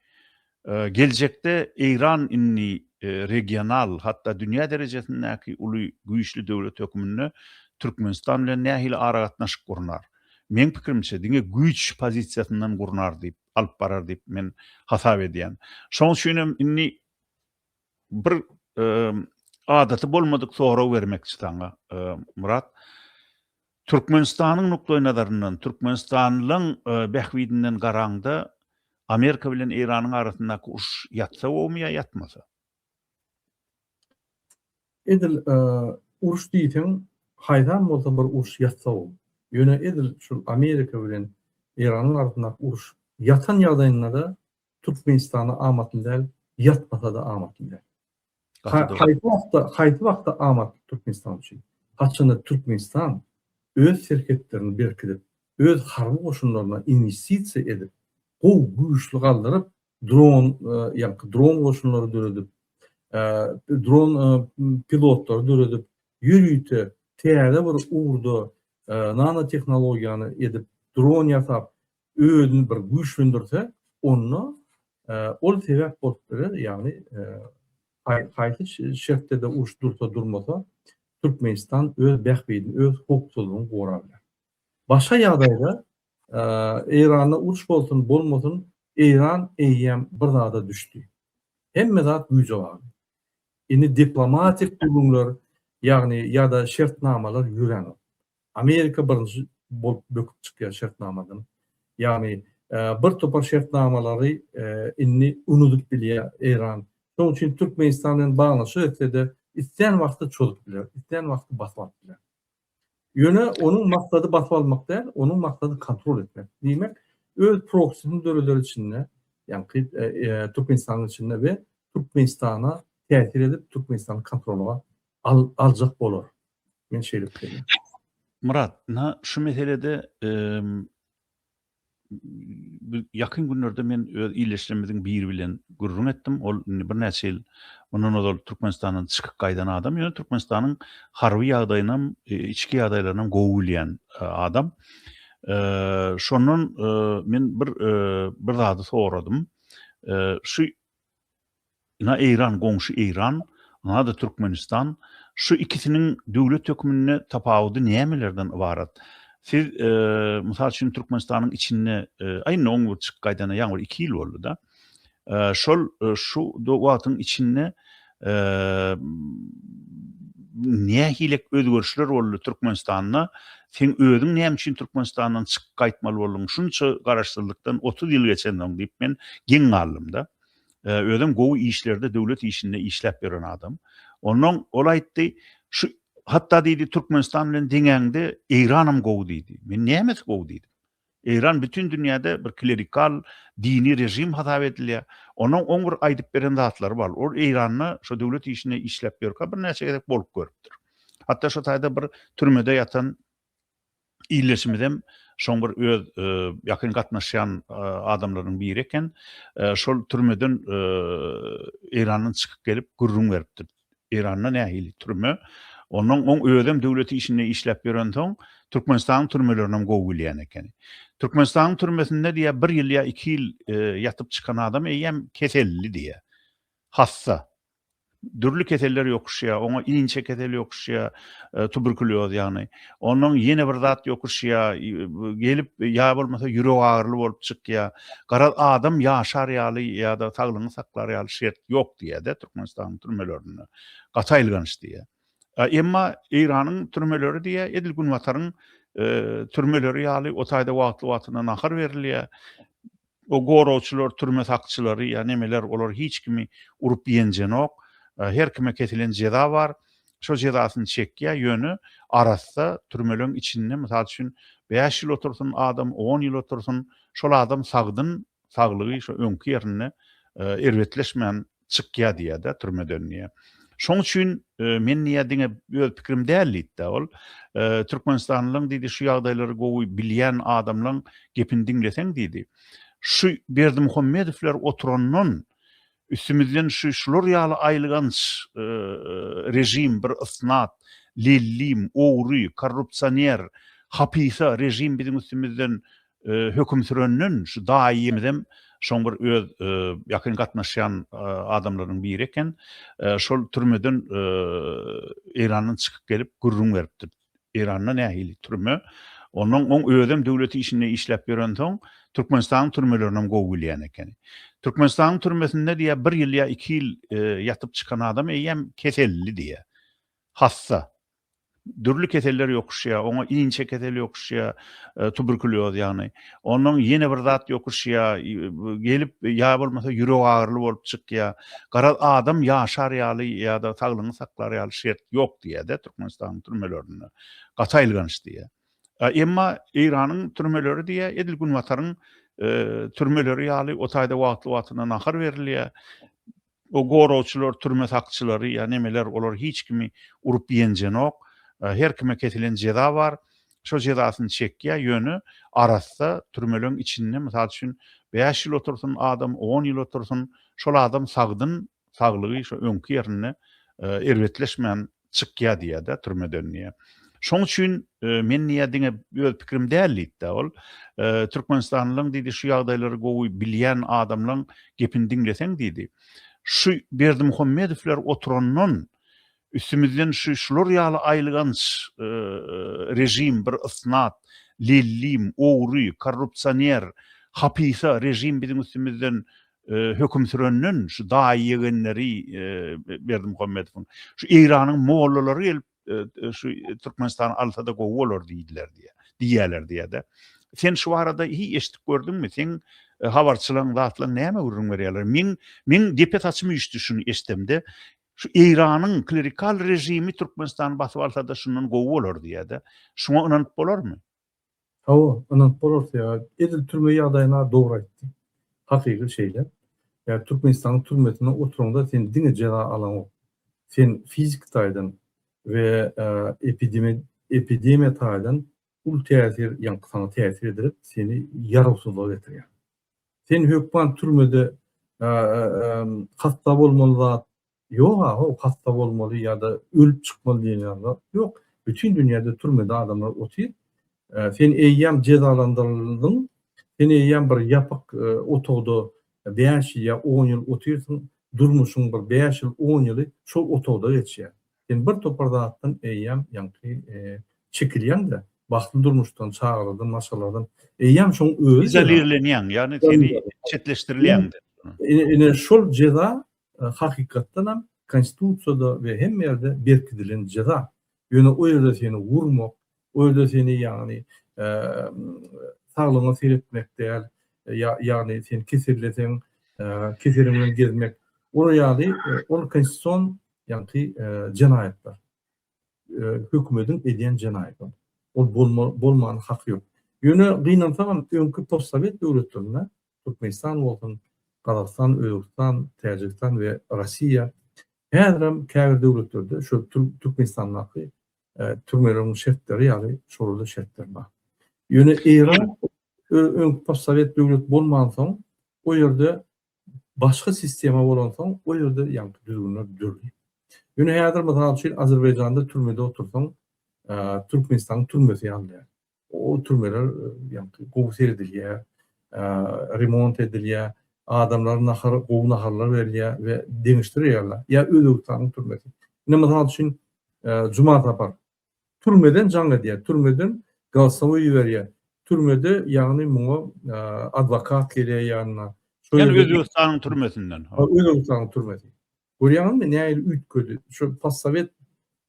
Geljekde Eýran indi regional, hatda dünýä derejesindäki uly güýçli döwlet hökmünde Türkmenistan bilen nähili aragatnaşyk gurnar? Meň pikirimçe, diňe güýç pozisiýasyndan gurnar diýip, alyp barar diýip men hasap edýän. Şonuň üçin hem indi bir adaty bolmadyk sorag bermekçi saňa, Myrat. Türkmenistanyň nukdaýnazaryndan, türkmenistanlyň bähbidinden garaňda, Amerika bilen Eýranyň arasyndaky uruş ýatsa bowmy ýa ýatmasa? Edil uruş diýseň, haýsam bolsa bir uruş ýatsa bow. Ýöne edil şul Amerika bilen Eýranyň arasyndaky uruş ýatan ýagdaýynda-da Türkmenistana amatly däl, ýatmasa-da amatly däl. Haýsy wagtda, haýsy wagtda amatly Türkmenistan üçin? Haçanda Türkmenistan öz serhetlerini berkidip, öz harby goşunlaryna inwestisiýa edip, gowy, güýçli galdyryp, dron, ýaňky dron goşunlary döredip, dron pilotlary döredip, ýörite täze bir ugurda nanotehnologiýany edip, dron ýasap, özüni bir güýçlendirse, onda ol sebäp bolup biler, ýagny haýsy şertde-de uruş dursa-durmasa, Türkmenistan öz bähbidini, öz howpsuzlygyny gorar biler. Başga ýagdaýda Eýranda uruş bolsun, bolmasyn, Eýran eýýäm bir zada düşdi. Hemme zat güýje bagly. Indi diplomatik gürrüňler, ýagny ýa-da şertnamalar ýörenok. Amerika birinji bolup böküp çykýar şertnamadan. Ýagny bir topar şertnamalary indi unudyp bilýär Eýran. Şonuň üçin Türkmenistan bilen baglaşyk etse-de, islän wagty çozup biler, islän wagty basyp alyp biler. Ýöne onuň maksady basyp almak däl, onuň maksady kontrol etmek. Diýmek, öz proksini döreder içinde, ýagny Türkmenistanyň içinde we Türkmenistana täsir edip, Türkmenistany kontrola Al, aljak bolar. Men şeýle pikirlän. Myrat, ynha şu meselede ýakyn günlerde men öz ildeşlerimiziň biri bilen gürrüň etdim. Ol indi birnäçe ýyl mundan ozal Türkmenistandan çykyp gaýdan adam, ýöne Türkmenistanyň harby ýagdaýynam, içki ýagdaýlarynam gowy bilýän adam. Şondan men bir zady soradym. Şu Ina Eýran goňşy Eýran, ynada Türkmenistan, şu ikisiniň döwlet hökmünde tapawudy nämelerden ybarat? Siz mysal üçin Türkmenistanyň içinde aý indi oň bir çykyp gaýdana ýaňy bir iki ýyl boldy-da. Şol şu wagtyň içinde nähilek özgerişler boldy Türkmenistanda? Sen özüň näme üçin Türkmenistandan çykyp gaýtmaly bolduň? Şunça garaşsyzlykdan otuz ýyl geçensoň diýip men geň galdym-da. Özem gowy işlerde döwlet işinde işläp ýören adam. Onnoň ol aýtdy, şu hatda diýdi Türkmenistan bilen deňäňde Eýranam gowy diýdi. Men nämesi gowy diýdim. Eýran bütin dünýäde bir klerikal dini režim hasap edilýär. Onuň oň bir aýdyp beren zatlary bar. Ol Eýranda şu döwlet işinde işläp ýörkä birnäçe gezek bolup görüpdir. Hatda şu taýda bir türmede ýatan Ildeşimizem şoň bir öz ýakyn gatnaşýan adamlarynyň biri eken. Şol türmeden Eýrandan çykyp gelip gürrüň beripdir. Eýranda nähili türme. Onnoň oň özem döwlet işinde işläp ýörensoň Türkmenistanyň türmelerini gowy bilýän eken. Türkmenistanyň türmesinde diýýär bir ýyl ýa iki ýyl ýatyp çykan adam eýýäm keselli diýýär. Hassa. dürli keseller ýokuşýar, oňa inçe kesel ýokuşýar, tuberkulýoz ýagny. Ondan ýene bir zat ýokuşýar, gelip ýa bolmasa ýürek agyryly bolup çykýar. Garaz, adam ýaşar ýaly ýa-da saglygyny saklar ýaly şert ýok diýýär-de Türkmenistanyň türmelerinde. Gaty aýylganç diýýär. Emma Eýranyň türmeleri diýýär, edil Günbataryň türmeleri ýaly, o taýda wagtly-wagtynda nahar berilýär. O goragçylar türme sakçylary ýa nemeler olar hiç kimi urup ýenjenok. Her kime kesilen jeza bar. Şo jezasyny çekýä ýöne arassa türmeleň içinde mysal üçin bäş ýyl otursyn adam on ýyl otursyn şol adam sagdyn saglygy şo öňki ýerinde erbetleşmän çykýar diýýärda türmeden diýýär. Şoň üçin men diýýär diňe öz pikirim däl diýdi ol. Türkmenistanlyň diýdi şu ýagdaýlary gowy bilýän adamlaň gepini diňleseň diýdi. Şu Berdimuhamedowlar oturandan üstümizden şu şular ýaly aýylganç režim bir ysnat, lellim, ogry, korrupsioner, hapysa režim biziň üstümizden höküm sürenden şu daýymyzem şoň bir öz ýakyn gatnaşýan adamlarynyň biri eken. Şol türmeden Eýrandan çykyp gelip gürrüň beripdir. Eýranda nähili türme? Ondan oň özem döwlet işinde işläp ýörensoň, Türkmenistanyň türmelerinem gowy bilýän eken. Türkmenistanyň türmesinde diýýär, bir ýyl ýa iki ýyl ýatyp çykan adam eýýäm keselli diýýär. Hassa. dürli keseller ýokuşýar, oňa inçe kesel ýokuşýar, tuberkulýoz ýagny. Ondan ýene bir zat ýokuşýar, gelip ýa bolmasa ýürek agyryly bolup çykýar. Garaz, adam ýaşar ýaly ýa-da saglygyny saklar ýaly şert ýok diýýär-de Türkmenistanyň türmelerinde. Gaty aýylganç diýýär. Emma Eýranyň türmeleri diýýär, edil Günbataryň türmeleri ýaly, o taýda wagtly-wagtyna nahar berilýär. O goragçylar türme sakçylary ýa nemeler olar hiç kimi urup ýenjenok. Her kime kesilen jeza bar. Şo jezasyny çekýä ýöne arassa türmeleň içinde mysal üçin bäş ýyl otursyn adam on ýyl otursyn şol adam sagdyn saglygy şo öňki ýerinde erbetleşmän Çykýar diýýär-de türmeden diýýär. Şoň üçin men diýýär diňe öz pikirim däl diýdi-de ol. Türkmenistanlyň diýdi şu ýagdaýlary gowy bilýän adamlaň gepini diňleseň diýdi. Şu Berdimuhamedowlar oturandan üstümizden şu şular ýaly aýylganç režim bir ysnat, lellim, ogry, korrupsioner, hapysa režim biziň üstümizden Höküm sürenden şu daýy ýegenleri Berdimuhamedowyň, şu Eýranyň mollalary gelip şu Türkmenistany alsada gowy bolar diýdiler diýýär. Diýýäler diýýär-de. Sen şu barada hiý eşidip gördüňmi? Seň habarçylaň, zatlaň näme gürrüň berýärler? Meň, meň depe saçym üýşdi şuny eşdemde. Şu Eýranyň klerikal režimi Türkmenistany basyp alsada şundan gowy bolar diýýär-de. Şuňa ynanyp bolarmy? Hawa, ynanyp bolarsyy ýa, edil türme ýagdaýyna dogry aýtdy. Hakygy şeýle. Ýa Türkmenistanyň türmesinde oturanda sen diňe jeza alaňok. Sen fiziki taýdan we epidemi, epidemiýa taýdan uly täsir, ýaňky saňa täsir edilip, seni ýarawsyzlyga getirýär. Sen hökman türmede hassa bolmaly zat, Ýok aga ol hassa bolmaly ýa-da ölüp çykmaly diýen ýaly zat ýok. Bütin dünýäde türmede adamlar otyr. Sen eýýäm jezalandyryldyň. Sen eýýäm bir ýapyk otagda bäş ýyl ýa on ýyl otyrsyň. Durmuşyň bir bäş ýyl, on ýyly şol otagda geçýär. Sen bir topar zatdan eýýäm ýaňky çekilýäň-de, bagtly durmuşdan, çagalardan, maşgaladan. Eýýäm şoň özi. Izolirlenýäň, ýagny seni çetleşdirilýäň-de. Ine şol jeza hakykatdanam konstitusiýada we hemme ýerde berkidilen jeza. Ýöne o ýerde seni urmak, o ýerde seni ýagny saglygyňa seretmek däl, ýagny sen keselleseň keseliň bilen gezmek, olar ýaly ol konstitusion ýagny jenaýatlar. Hökümediň edýän jenaýaty. Ol bolmany haky ýok. Ýöne gynansagam öňki postsowet döwletlerinde Türkmenistan bolsun, Gazagystan, Özbegistan, Täjigistan we Rossiýa häzirem käbir döwletlerde şol Türkmenistandaky türmeleriň şertleri ýaly şolada şertler bar. Ýöne Eýran öňki postsowet döwlet bolmansoň, o ýerde başga sistema bolansoň, o ýerde ýaňky düzgünler dürli. Ýöne häzir, mysal üçin, Azerbaýjanda türmede otursaň, Türkmenistanyň türmesi ýaly däl. O türmeler ýaňky gowy seredilýär, remont edilýär, adamlar nahar, gowy naharlar berilýär we deňişdirilýärler. Ýa Özbegistanyň türmesi. Ine mysal üçin Juma Sapar. Türmeden jaň edýär, türmeden galsowy iberýär. Türmede ýagny muňa adwokat gelýär ýanyna. Ýa Özbegistanyň türmesinden. Özbegistanyň türmesi. Görýäňizmi nähili üýtgedi. Şo possowet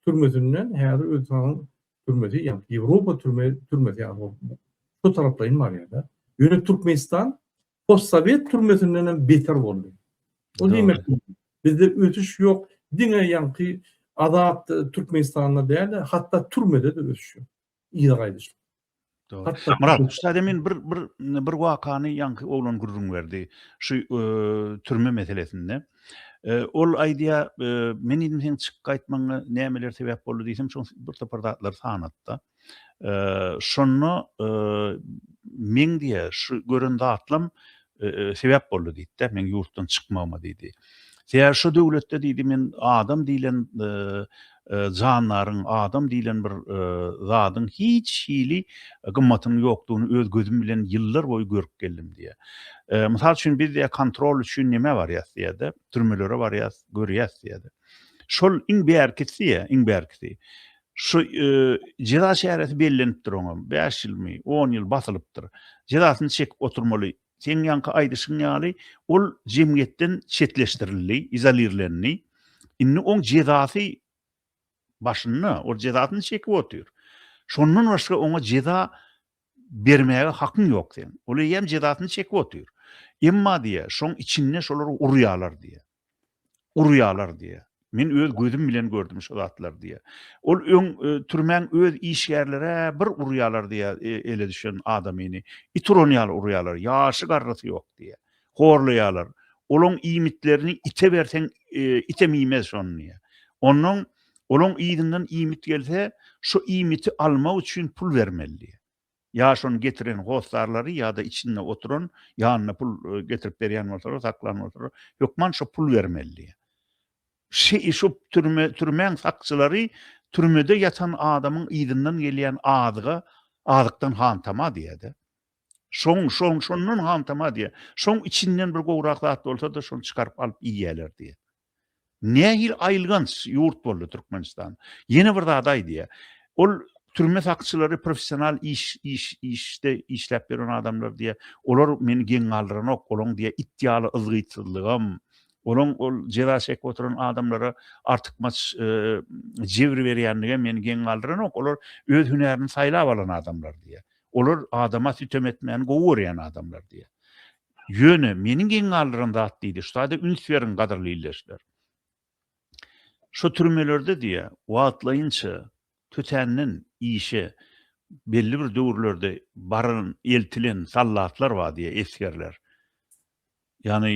türmesinden häzir öz saňyň türmesi ýa-da Ýewropa türme türmesi ýaly bolup şo taraplaýyn barýar-da. Ýöne Türkmenistan possowet türmesinden hem beter boldy. O diýmek bizde ösüş ýok. Diňe ýaňky azat Türkmenistanda däl-de hatda türmede-de ösüş ýok. ýa gaýdyş. Samyral, ussat emin bir bir bir wakany ýaňky oglan gürrüň berdi. Şu türme meselesinde. Ol aýdýa, men diýdim sen çyk gaýtmagyňa nämeler sebäp boldy diýsem, şoň bir topar zatlar sanatda. Şonda men diýe şu gören zatlam sebäp boldy diýdi-de, meň ýurtdan çykmagyma diýdi. Sebäbi şo döwletde diýdi, men adam diýlen jandaryň, adam diýlen bir zadyň hiç hili gymmatynyň ýokdugyny öz gözüm bilen ýyllar boýy görüp geldim diýýär. Mysal üçin, biz diýýär, kontrol üçin nämä barýas diýýär-de, türmelere barýas, görýäs diýýär-de. Şol iň bärkisi diýýär, iň bärkisi. Şu jeza çäresi bellenipdir oňam, bäş ýylmy, on ýyl basylypdyr. Jezasyny çekip oturmaly. Seň ýaňky aýdyşyň ýaly, ol jemgyýetden çetleşdirildi, izolirlendi. Indi oň jezasy başynda, ol jezasyny çekip otyr. Şondan başga oňa jeza bermäge hakyň ýok seň. Ol eýýäm jezasyny çekip otyr. Emma diýýär, şoň içinde şolar urýarlar diýýär. gurýarlar diýýär. Men öz gözüm bilen gördüm şu zatlary diýýär. Ol öň türmäň öz işgärleri-ä bir urýarlar diýýär, ele düşen adamyny it uran ýaly urýarlar, ýaşy-garrysy ýok diýýär. Horlaýarlar. Olaň iýmitlerini ite berseň, item iýmez şony diýýär. Onnoň olaň yzyndan iýmit gelse, şu iýmiti almak üçin pul bermeli diýýär. Ýa şony getiren hossarlary ýa-da içinde oturan, ýanyna pul getirip berýän bolsalar, saklan bolsalar, hökman şo pul bermeli. Şu türme, türmäň sakçylary türmede ýatan adamyň yzyndan gelýän azyga, azykdan hantama diýýär-de. Şoň, şoň, şondan hantama diýýär. Şoň içinden bir gowrak zat bolsa-da, şony çykaryp alyp iýýärler diýýär. Nähili aýylganç ýurt boldy Türkmenistan. Ýene bir zady aýdýa. Ol türme sakçylary professional iş iş işde işläp ýören adamlar diýä. Olar meni geň galdyranok. Olaň diýä it ýaly yzgytsyzlygam, olaň ol jeza çekip oturan adamlara artykmaç jebir berýänligem meni geň galdyranok. Olar öz hünärini saýlap alan adamlar diýä. Olar adama sütem etmäni gowy görýän adamlar diýä. Ýöne, meniň geň galdyran zat diýdi, şu zada üns beriň, gadyrly ildeşler. Şu türmelerde diýýär, wagtlaýynça tötänden işe belli bir döwürlerde baran, eltilen sallatlar bar diýýär, esgerler. Ýagny,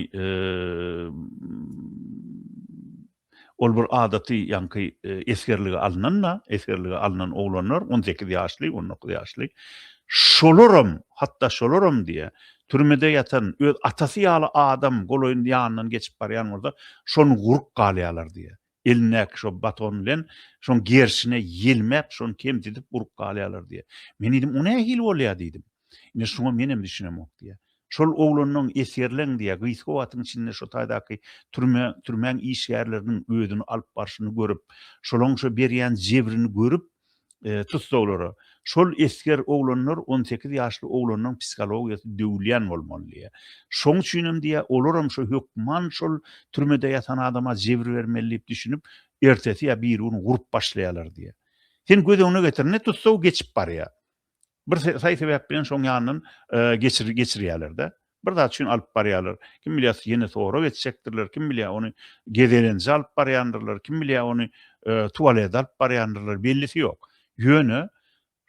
Ol bir adaty ýaňky esgerlige alnanda, esgerlige alnan oglanlar on sekiz ýaşly, on dokuz ýaşly, şolaram, hatda şolaram diýe, türmede ýatan öz atasy ýaly adam golaýynda ýanyndan geçip barýan bolsa, şony guryp galýarlar diýe. Elindäki şo baton bilen şoň gerşine ýelmäp, şony kemsidip guryp galýarlar diýe. Men diýdim, o nähili bolýa diýdim. Ine, şuňa menem düşünemok diýýär. Şol oglanyň esgerleň diýýär, gysga wagtyň içinde şo taýdaky türme, türmäň işgärleriniň özüni alyp barşyny görüp, şolaň şo berýän jebrini görüp, tussaglara, şol esger oglanlar on sekiz ýaşly oglanyň psihologiýasy döwülýän bolmaly diýýär. Şoň üçinem diýýär, olaram şo hökman şol türmede ýatan adama jebir bermeli diýip düşünip, ertesi ýa birigün gurup başlaýarlar diýýär. Sen göz öňüne getir, ine, tussag geçip barýar. Bir saý sebäp bilen şoň ýanyndan geçirýärler-de. Bir zat üçin alyp barýarlar. Kim bilýär, ýene sorag etjekdirler, kim bilýär, ony gezelenje alyp barýandyrlar, kim bilýär, ony tualete alyp barýandyrlar, bellisi ýok. Ýöne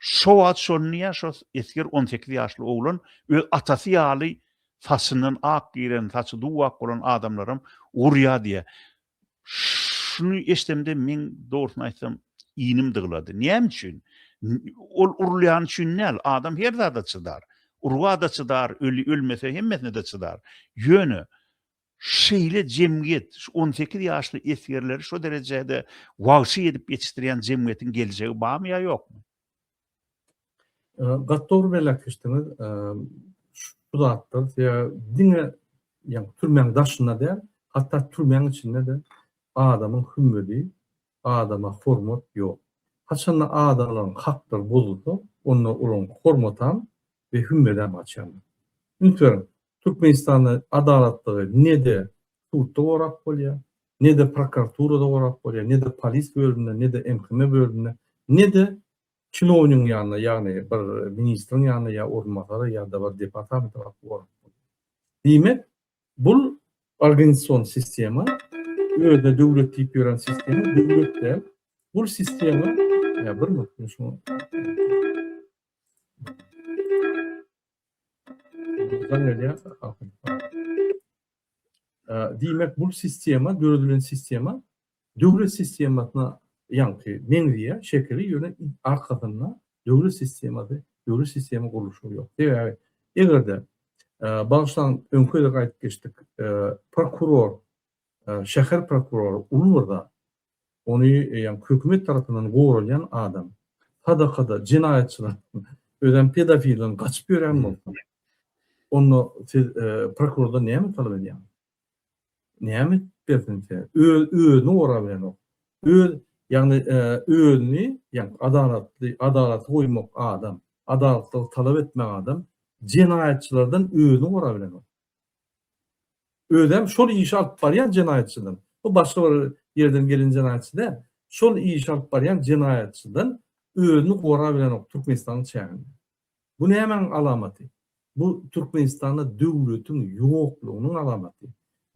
şo wagt şony ýa şo esger on sekiz ýaşly oglan öz atasy ýaly saçyndan ak giren, saçy duw-ak bolan adamlaram urýar diýýär. Şuny eşdemde meň dogrusyny aýtsam inim dyglady. Näme üçin? Ol urulýany üçin däl, adam her zada çydar. Urga-da çydar, ölmese hemmesine-de çydar. Ýöne şeýle jemgyýet, şu on sekiz ýaşly esgerleri şo derejede wagşy edip ýetişdirýän jemgyýetiň geljegi barmy ýa ýokmy? Gat dogry belläp geçdiňiz. Şu zatlar size diňe ýa türmäň daşynda däl, hatda türmäň içinde-de adamyň hümmedi, adama hormat ýok. Haçanda adamlaryň haklary bozulsa, onda olaryň hormatam we hümmedem gaçýandyr. Üns beriň, Türkmenistanda adalatlygy ne-de sudda gorap bolýar, ne-de prokuraturada gorap bolýar, ne-de polis bölüminde, ne-de MHM bölüminde, ne-de çinownigiň ýanynda, ýagny bir ministriň ýanynda ýa orunbasara ýa-da bir departamenta baryp gorap bolýar. Diýmek, bul organizasion sistema, özüne döwlet diýip ýören sistema döwlet däl. Bul sistema, ýa bir minut men şuňa Jaň gelýär, Diýmek, bu sistema, döredilen sistema döwlet sistemasyna ýaňky meňzeýär şekili, ýöne arkasynda döwlet sistemasy, döwlet sistema gurluşygy ýok. Sebäbi eger-de bagyşlaň, öňki-de aýdyp geçdik, prokuror, şäher prokurory uly bir zat. Ony eýýäm hökümet tarapyndan goralýan adam. Sadakada jenaýatçylar, özem pedofilden gaçyp ýörýän bolsa, onda siz prokurordan näme talap edýäňiz? Näme edip bersin size? Öz özüni gorap bilenok. Öz, ýagny özüni, ýagny adalatly, adalaty goýmak adam, adalatlygy talap etmek adam jenaýatçylardan özüni gorap bilenok. Özem şol işi alyp barýan jenaýatçydan. Bu başga bir ýerden gelen jenaýatçy däl. Şol işi alyp barýan jenaýatçydan özüni gora bilenok Türkmenistanyň çäginde. Bu nämäň alamaty? Bu Türkmenistanda döwletiň ýoklugynyň alamaty.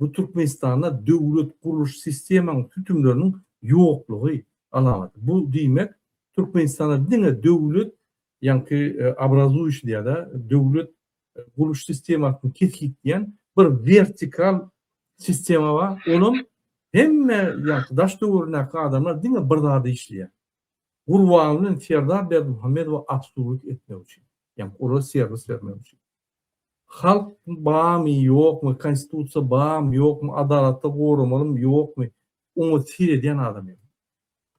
Bu Türkmenistanda döwlet gurluş sistemaň sütümleriniň ýoklugy alamaty. Bu diýmek Türkmenistanda diňe döwlet ýaňky obrazuýuş diýýär-de, döwlet gurluş sistemasyny kesgitleýän bir wertikal sistema bar. Olam hemme ýaňky daş döwründäki adamlar diňe bir zada işleýär. Gurbanguly bilen Serdar Berdimuhamedowa absurdlyk etmek üçin. Ýa olara serwis bermek üçin. Halk barmy, ýokmy, konstitusiýa barmy, ýokmy, adalatda goramalymy, ýokmy, oňa seredýän adam ýok.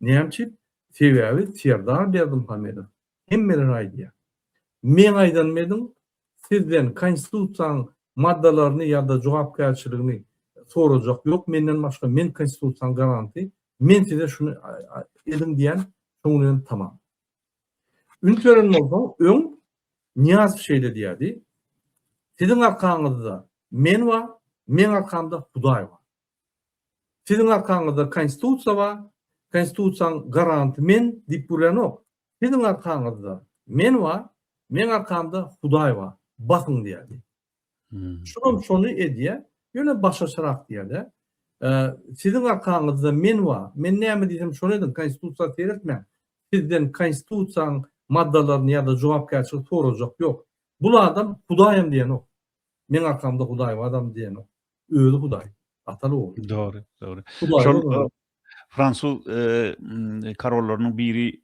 Näme üçin? Sebäbi Serdar Berdimuhamedow Hemmeler aýdýar. Meň aýdanymy ediň, sizden konstitusiýanyň maddalaryny ýa-da jogapkärçiligini sorajak ýok menden başga, men konstitusiýanyň garanty, men size şuny ediň diýen, şoň bilen tamam. Üns beren bolsaň, öň Nyýazow şeýle diýýärdi, Siziň arkaňyzda men bar, meň arkamda Hudaý bar. Siziň arkaňyzda konstitusiýa bar, konstitusiýaň garanty men diýip gürlänok. Siziň arkaňyzda men bar, meň arkamda Hudaý bar, basyň diýýärdi. Şuram şony edýär, ýöne başga çyrak diýýär-de. Siziň arkaňyzda men bar, men näme diýsem şony ediň, konstitusiýa seretmäň. Sizden konstitusiýaň maddalaryny ýa-da jogapkärçiligi sorajak ýok. Bul adam Hudaýam diýenok. Meň arkamda Hudaý bar adam diýenok. Özi Hudaý. Ataly ogly. Dogry, dogry. Şol fransuz karollarynyň biri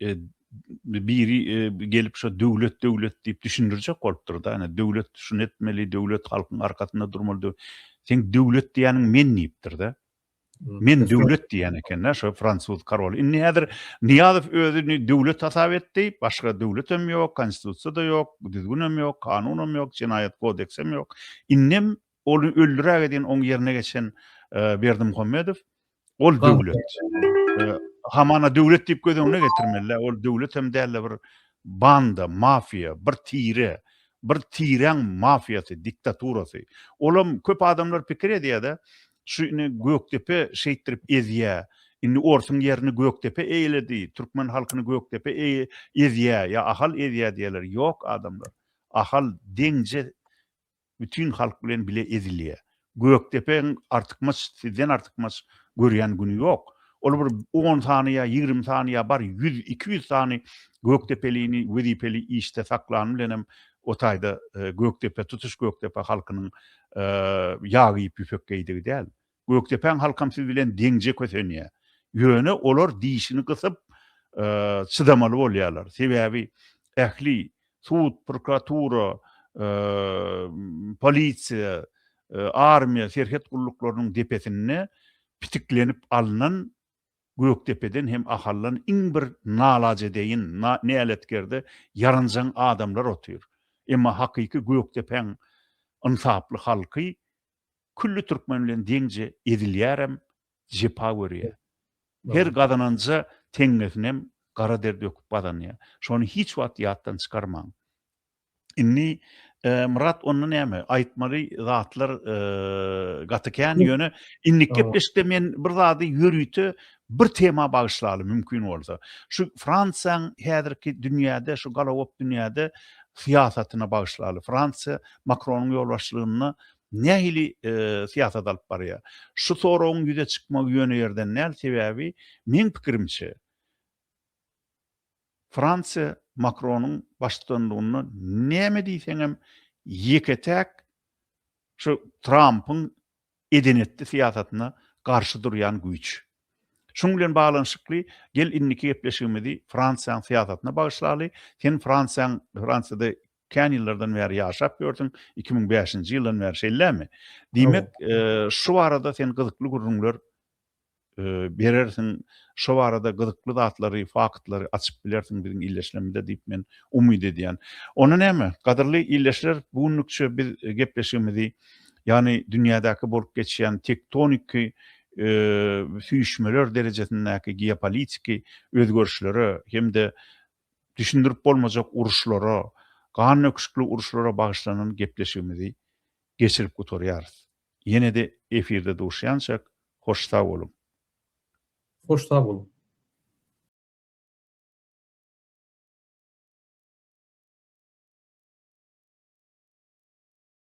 biri gelip şu döwlet döwlet diýip düşündirjek bolupdyr da, ýa döwlet şun etmeli, döwlet halkyň arkasynda durmaly. Sen döwlet diýeniň men diýipdir da. Men döwlet diýen eken da, şu fransuz karoly. Indi häzir Niýazow özüni döwlet hasap etdi, başga döwlet hem ýok, konstitusiýa da ýok, düzgün hem ýok, kanun hem ýok, jenaýat kodeks hem ýok. Indi Ony öldüräge diýen oň ýerine geçen Berdimuhammedow ol döwlet. Hamana döwlet diýip göz öňüne getirmeli. Ol döwlet hem däl-de bir banda, mafiýa, bir tire, bir tireň mafiýasy, diktaturasy. Olam köp adamlar pikir edýär-de, şu indi Gökdepe şeýtdirip ezýär. Indi orsuň ýerini Gökdepe eýledi, türkmen halkyny Gökdepe ezýär ýa Ahal ezýär diýýärler. Ýok adamlar. Ahal deňje Bütin halk bilen bile ezilýär. Gökdepeň artykmaç, sizden artykmaç görýän güni ýok. Ol bir on sany ýa ýigrimi sany ýa bary ýüz, iki ýüz sany gökdepelini wezipeli işde saklany bilenem o taýda Gökdepe, tutuş Gökdepe halkynyň ýag iýip ýüpek geýdigi däl. Gökdepäň halkam siz bilen deňje kösenýär. Ýöne olar dişini gysyp çydamaly bolýarlar. Sebäbi ähli sud, prokuratura, polisiýa, armiýa, serhet gulluklarynyň depesinde pitiklenip alnan Gökdepeden hem Ahaldan iň bir nalajedeýin, näletkerde ýaranjaň adamlar otyr. Emma hakyky Gökdepäň ynsaply halky külli türkmen bilen deňje ezilýärem, jepa görýär. Her gazananja teňňesinem gara der döküp gazanýar. Şony hiç wagt ýatdan çykarmaň. Indi Myrat onda näme? Aýtmaly zatlar gaty kän, ýöne indiki gepleşikde men bir zady ýörite bir tema bagyşlaly mümkin bolsa. Şu Fransiýaň häzirki dünýäde, şu galagop dünýäde syýasatyna bagyşlaly. Fransiýa Makronyň ýolbaşçylygynda nähili syýasat alyp barýar? Şu soragyň ýüze çykmagy ýöne ýerden däl, sebäbi meň pikirimçe, Fransiýa Makronyň baştutanlygynda näme diýseňem ýeke-täk şu Trampyň eden-etdi syýasatyna garşy durýan güýç. Şunuň bilen baglanyşykly gel indiki gepleşigimizi Fransiýanyň syýasatyna bagyşlaly. Sen Fransiýanyň Fransiýada Kän ýyllardan bäri ýaşap ýörsüň, iki müň bäşinji ýyldan bäri, şeýlemi? Diýmek, şu barada sen gyzykly gürrüňler berersiň, şo barada gyzykly zatlary, faktlary açyp bilersiň biziň ildeşlerimize diýip men umyt edýän. Onda näme, gadyrly ildeşler, bu günlükçe biz gepleşigimizi, ýagny dünýädäki bolup geçýän tektoniki süýşmeler derejesindäki geopolitiki özgerişlere hem-de düşündirip bolmajak uruşlara, gandöküşikli uruşlara bagyşlanan gepleşigimizi geçirip gutarýarys. Ýene-de efirde duşýançak, hoş sag boluň! Hoş sag boluň!